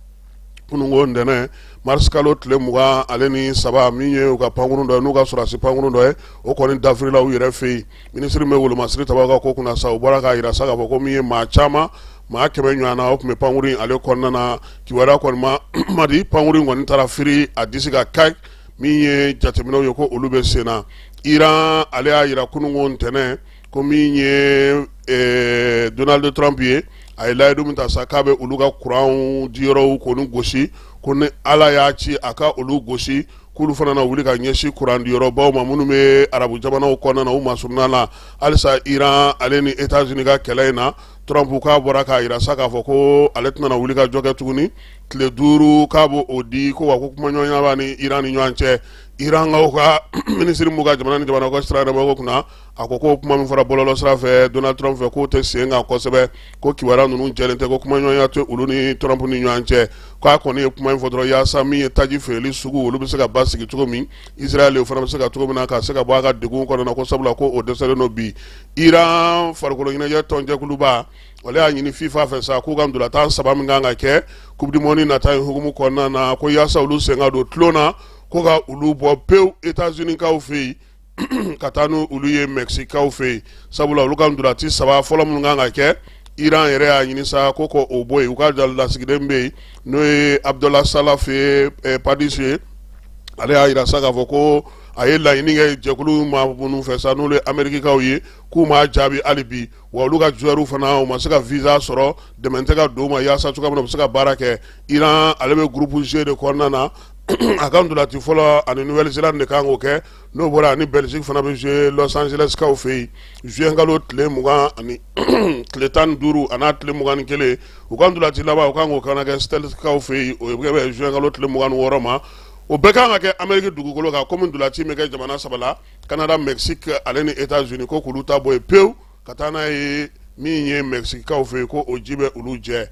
kununko ntɛnɛn mars kalo tile mugan ale ni saba min ye u ka pankurun dɔ ye n'u ka sɔrɔdasi pankurun dɔ ye o kɔni dafirila u yɛrɛ fɛ yen minisiri min bɛ wolomasiri tabaw ka ko kunna sa u bɔra k'a jira sa k'a fɔ ko min ye maa caman maa kɛmɛ ɲɔgɔnna o tun bɛ pankurun ale kɔnɔna na kibaruya kɔni man di pankurun in kɔni taara firi a disi kan ka min ye jateminɛw ye ko olu bɛ sen na Iran ale y'a jira kununko ntɛnɛn ko min ye eh, donald trump ye a ye layidu min ta sa k'a bɛ olu ka kuranw diyɔrɔw k'olu gosi ko ni ala y'a ci a ka olu gosi k'olu fana na wuli ka ɲɛsin kuran diyɔrɔbaw ma minnu bɛ arabu jamanaw kɔnɔna na u masuruna la halisa iran ale ni etats unis ka kɛlɛ in na trump k'a bɔra k'a yira sa k'a fɔ ko ale tɛna na wuli ka jɔ kɛ tuguni tile duuru k'a b'o o di ko wa ko kumaɲɔgɔnya b'a ni iran ni ɲɔgɔn cɛ iran kaw ka minisiri mun ka jamana ni jamana ka sira yɛrɛ kunna a ko ko kuma min fɔra bɔlɔlɔ sira fɛ donald trump fɛ k'o tɛ sen kan kosɛbɛ ko kibaruya ninnu jɛlen tɛ ko kumaɲɔgɔnya tɛ olu ni trump ni ɲɔgɔn cɛ k'a kɔni ye kuma in fɔ dɔrɔn yaasa min ye taji feereli sugu olu bɛ se ka basigi cogo min israel fana bɛ se ka cogo min na ka se ka bɔ a ka degun kɔnɔna ko sabula ko o dɛsɛlen don bi iran farikolo ɲɛnajɛ tɔnjɛkuluba ale y'a ɲini fifa fɛ sa k'u ka ntolatan saba min kan ka kɛ coupe du monde nata in hukumu kɔnɔna na ko yaasa olu sen ka don tulon na ko ka olu bɔ pewu etats unis kaw fɛ yen ka taa n' olu ye mexique kaw fɛ yen sabula olu ka ntolati saba fɔlɔ minnu kan ka kɛ iran yɛrɛ y'a ɲini sa ko ko o bɔ yen u ka lasigiden bɛ yen n'o ye abudula sa fɛ padise ye ale y'a yira sa k'a fɔ ko a ye laɲini kɛ jɛkulu ma minnu fɛ sa n'olu ye amerikikaw ye k'u ma jaabi hali bi wa olu ka joueurs fana u ma se ka visa sɔrɔ dɛmɛ tɛ ka don u ma yaasa cogoya min u bɛ se ka baara kɛ iran ale bɛ groupe g de kɔnɔna na a ka ntolati fɔlɔ ani nouvelle zélande de kan k'o kɛ n'o bɔra ani belgique fana bɛ jouer los angeles kaw fɛ yen zuwɛnkalo tile mugan tile tan ni duuru ani n'a tile mugan ni kelen u ka ntolati laban u kan k'o ka na kɛ seattle kaw fɛ yen o bɛ zuwɛnkalo tile mugan ni wɔɔrɔ ma o bɛɛ kan ka kɛ ameriki dugukolo kan kɔmi ntolati bɛ kɛ jamana saba la canada mexique ale ni etats unis ko k'olu ta bɔ yen pewu ka taa n'a ye min ye mexique kaw fɛ yen ko o ji bɛ olu jɛ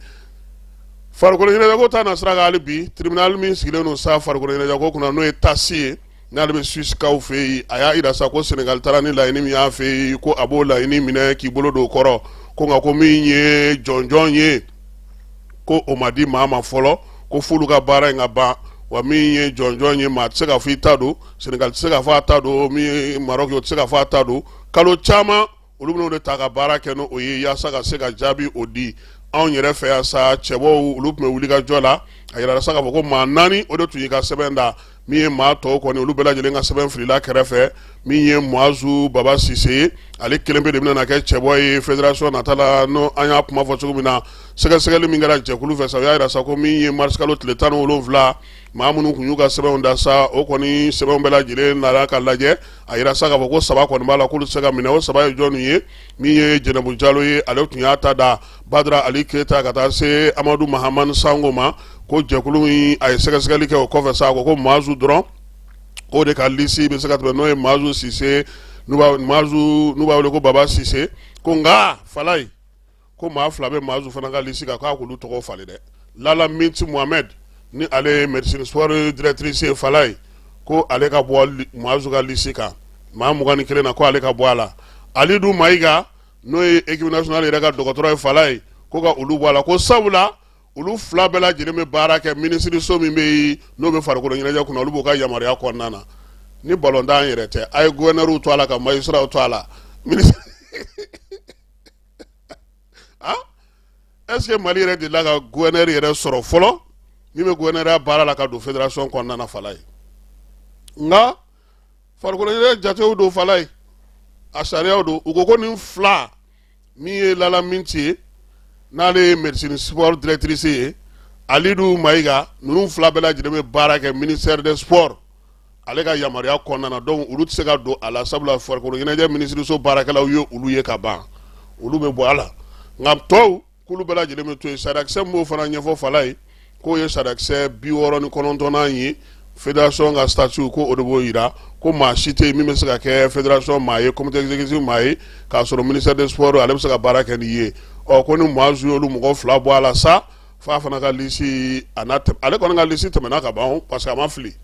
farikolo ɲɛnajɛko ta na sira kan hali bi tribunal min sigilen don sa farikoloɲɛnajɛko kunna n'o ye tasi ye n'ale bɛ suisse kaw fɛ yen a y'a yira sa ko sɛnɛgali taara ni laɲini min y'a fɛ yen ko a b'o laɲini minɛ k'i bolo don o kɔrɔ ko nka ko min ye jɔnjɔn ye ko o ma di maa ma fɔlɔ ko f'olu ka baara in ka ban wa min ye jɔnjɔn ye maa tɛ se ka fɔ i ta don sɛnɛgali tɛ se ka fɔ a ta don min ye marɔki ye o tɛ se ka fɔ a ta don kalo caman olu bɛn'o de ta ka baara kɛ n'o ye yaasa ka se ka jaabi o di anw yɛrɛ fɛ yan sa cɛbɔw olu tun bɛ wuli ka jɔ la a yirala sa k'a fɔ ko maa naani o de tun y'i ka sɛbɛn da min ye maa tɔw kɔni olu bɛɛ lajɛlen ka sɛbɛn filila kɛrɛfɛ min ye mahazu baba sise ye ale kelen pe de bɛna kɛ cɛbɔ ye fédération nata la n' an y'a kuma fɔ cogo min na sɛgɛsɛgɛli min kɛra jɛkulu fɛ sa u y'a yira sa ko min ye marisikalo tile tan ni wolonwula maa minnu tun y'u ka sɛbɛnw da sa o kɔni sɛbɛnw bɛɛ lajɛlen nana ka lajɛ a yira sa k'a fɔ ko saba kɔni b'a la k'olu tɛ se ka minɛ o saba ye jɔn ye min ye jɛnɛbu jalo ye ale tun y'a ta da badara ali keyita ka taa se amadu mahamani sango ma ko jɛkulu in a ye sɛgɛsɛgɛli kɛ o kɔfɛ sa ko ko maazu dɔrɔn k'o de ka lisi bɛ se ka tɛmɛ n'o ye maazu sise n'u b'a wele ko baba sise ko nka falayi ko maa fila bɛ maazu fana ka lisi kan k'a k'olu tɔgɔ falen dɛ lala minti mohamɛdi ni ale ye médecine sport directrice ye falayi ko ale ka bɔ maazu ka lisi kan maa mugan ni kelen na ko ale ka bɔ a la alidu mayiga n'o ye équipe nationale yɛrɛ ka dɔgɔtɔrɔ ye falayi ko ka olu bɔ a la ko sabu la olu fila bɛɛ lajɛlen bɛ baara kɛ minisiriso min bɛ n'o bɛ farikolo ɲɛnajɛ kunna olu b'u ka yamaruya kɔnɔna na ni balotan yɛrɛ tɛ a ye gouverneur to a la ka magistrat to a la ah? est-ce que mali yɛrɛ delila ka gouverneur yɛrɛ sɔrɔ fɔlɔ min bɛ gouverneurya baara la ka don federasɔn kɔnɔna na falayi nka farikolo ɲɛnajɛ jatew don falayi a sariyaw don u ko ko nin fila min ye lala minti ye n'ale ye médecine sport directrice ye alidu mayiga ninnu fila bɛɛ lajɛlen bɛ baara kɛ ministère des sports ale ka yamaruya kɔnɔna donc olu tɛ se ka don a la sabula farikolo ɲɛnajɛ minisiriso baarakɛlaw ye olu ye ka ban olu bɛ bɔ a la nka tɔw k'olu bɛɛ lajɛlen bɛ to yen sariyasen b'o fana ɲɛfɔ falayi k'o ye sariyasen bi wɔɔrɔ ni kɔnɔntɔnnan ye federasɔn ka statut ko o de b'o yira ko maa si tɛ yen min bɛ se ka kɛ federasɔn maa ye comité exécutif maa ye k'a sɔrɔ ministère des sports ale bɛ se ka baara kɛ n'i ye ɔ ko ni maazu y'olu mɔgɔ fila bɔ a la sa fo a fana ka lisi a n'a ale kɔni ka lisi tɛmɛna ka ban parce que a ma fili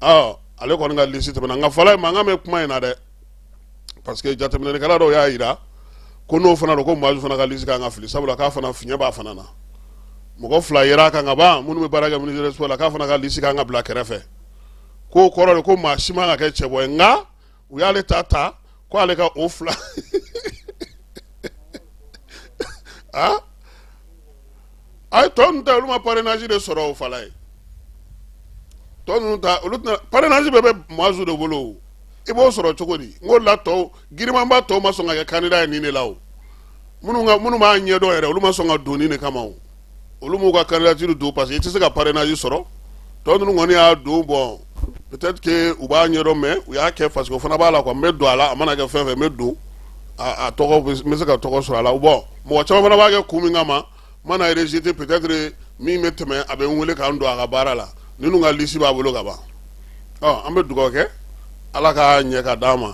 ɔ ale kɔni ka lisi tɛmɛna nka falayi mankan bɛ kuma in na dɛ parce que jateminɛlikɛla dɔw y'a yira ko n'o fana don ko maazu fana ka lisi kan ka fili sabula k'a fana fiɲɛ b'a fana na mɔgɔ fila yera a kan ka ban minnu bɛ baara kɛ ministère des sports la k'a fana ka lisi kan ka bila kɛrɛfɛ k'o kɔrɔ de ko maa si man ka kɛ cɛbɔ ye nka u y'ale ta ta ko ale ka o falayi tɔ ninnu ta olu ma parrainage de sɔrɔ o falayi tɔ ninnu ta olu tɛna parrainage bɛɛ bɛ maazu de bolo o i b'o sɔrɔ cogo di n ko la tɔw girimanba tɔw ma sɔn ka kɛ candidat ye nin de la o minnu ka minnu b'a ɲɛdɔn yɛrɛ olu ma sɔn ka don nin de kama o olu m'u ka candidature don parce que i tɛ se ka parrainage sɔrɔ tɔ ninnu kɔni y'a don bɔn peut-être que u b'a ɲɛdɔn mais u y'a kɛ parce que o fana b'a la quoi n bɛ don a la a mana kɛ fɛn fɛn n bɛ don a tɔgɔ n bɛ se ka tɔgɔ sɔrɔ a la bɔn mɔgɔ caman fana b'a kɛ kun min kama n mana rejeté peut-être min bɛ tɛmɛ a bɛ n wele k'an don a ka baara la ninnu ka lisi b'a bolo ka ban ɔ an bɛ dugawu kɛ ala ka ɲɛ ka d'an ma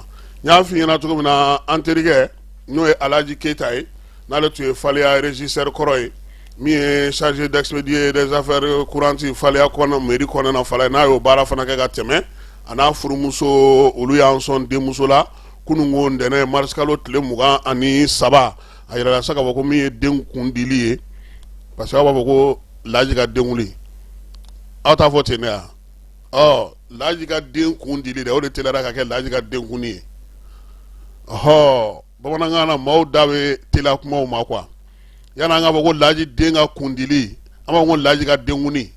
n y'a f'i ɲɛna cogo min na an terikɛ n'o ye alaji keyita ye n'ale tun ye faleya régisseur kɔrɔ ye min ye chargé d'expédier des affaires courantes faleya kɔnɔ mairie kɔnɔna faleya n'a y'o baara fana kɛ ka tɛmɛ a n'a furumuso olu y'an sɔn denmuso la kunun ko ntɛnɛn marisikalo tile mugan ani saba a yirala sa k'a fɔ ko min ye den kun dili ye parce que aw b'a fɔ ko laji ka den wuli aw t'a fɔ ten de wa ɔ laji ka den kun dili de o de teliyara ka kɛ laji ka den kunni ye ɔɔ bamanankan na maaw da bɛ teliya kumaw ma quoi yani an k'a fɔ ko laji den ka kundili an b'a fɔ ko laji ka denkuni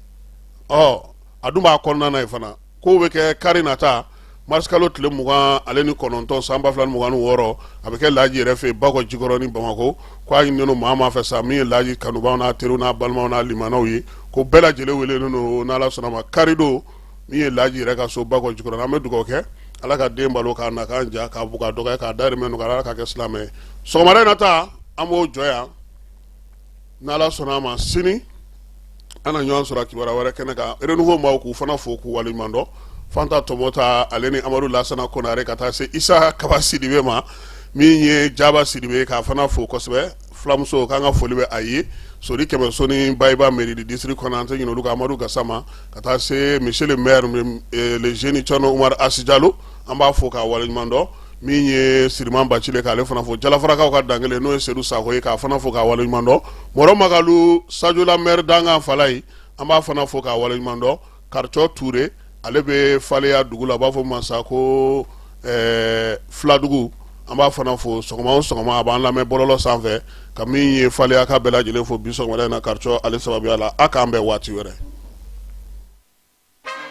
ɔ a dun b'a kɔnɔna na yen fana kow bɛ kɛ kari nata marisikalo tile mugan ale ni kɔnɔntɔn san ba fila ni mugan ni wɔɔrɔ a bɛ kɛ laji yɛrɛ fɛ yen bakɔjikɔrɔni bamako ko a ɲininen don maa maa fɛ sa min ye laji kanubaw n'a teriw n'a balimaw n'a limanaw ye ko bɛɛ lajɛlen welelen don n'ala sɔnna a ma kari don min ye laji yɛrɛ ka so bakɔ jikɔrɔ an bɛ dugawu kɛ ala ka den balo k'a nakan diya k'a bugu a dɔgɔ ye k'a dahirimɛ nɔgɔya ala k'a kɛ silamɛ ye sɔgɔmada in na ta an b'o jɔ yan n'ala sɔnna a ma sini an na ɲɔgɔn sɔrɔ kibaruya wɛrɛ kɛnɛ kan renouveau maaw k'u fana fo k'u waleɲuman dɔn fanta tɔmɔta ale ni amadu lasana konare ka taa se isa kaba sidibe ma min ye jaba sidibe k'a fana fo kosɛbɛ fulamuso k'an ka foli bɛ a ye sori kɛmɛso ni bayi ba mairie du district kɔnɔ an tɛ ɲinɛ olu kɔ amadu gasama ka taa se monsieur le maire eh, le jeune cɔno umar asi jalo an b'a fo k'a waleɲuman dɔn min ye siriman bacili k'ale fana fo jalafarakaw ka dankelen n'o ye sedu sako ye k'a fana fo k'a waleɲuman dɔn mɔrɔ makalu sajola maire dankan fɔlɔ ye an b'a fana fo k'a waleɲuman dɔn karicɔ ture ale bɛ faleya dugu la a b'a fɔ mansa ko eh, filadugu an b'a fana fo sɔgɔma o sɔgɔma a b'an lamɛn bɔlɔlɔ sanfɛ ka min ye faleyakaw bɛɛ lajɛlen fo bi sɔgɔmada in na karicɔ ale sababuya la a k'an bɛn waati wɛrɛ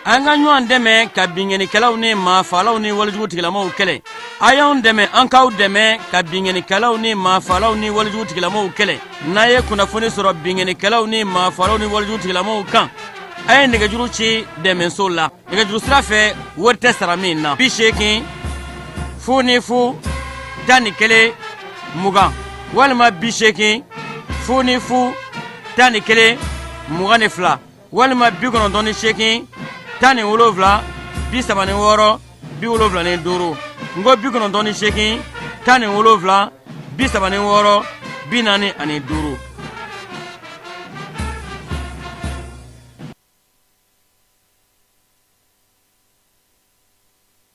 an ka ɲɔgɔn dɛmɛ ka binkannikɛlaw ni maafalaw ni walejugu tigilamaw kɛlɛ a y'anw dɛmɛ an k'aw dɛmɛ ka binkannikɛlaw ni maafalaw ni walejugu tigilamaw kɛlɛ n'a ye kunnafoni sɔrɔ binkannikɛlaw ni maafalaw ni walejugu tigilamaw kan a ye nɛgɛjuru ci dɛmɛso la nɛgɛjuru sira fɛ wari tɛ sara min na bi seegin fu ni fu tan ni kelen mugan walima bi seegin fu ni fu tan ni kelen mugan ni fila walima bi kɔnɔntɔn ni seegin tan ni wolonwula bi saba ni wɔɔrɔ bi wolonwula ni duuru n ko bi kɔnɔntɔn ni seegin tan ni wolonwula bi saba ni wɔɔrɔ bi naani ani duuru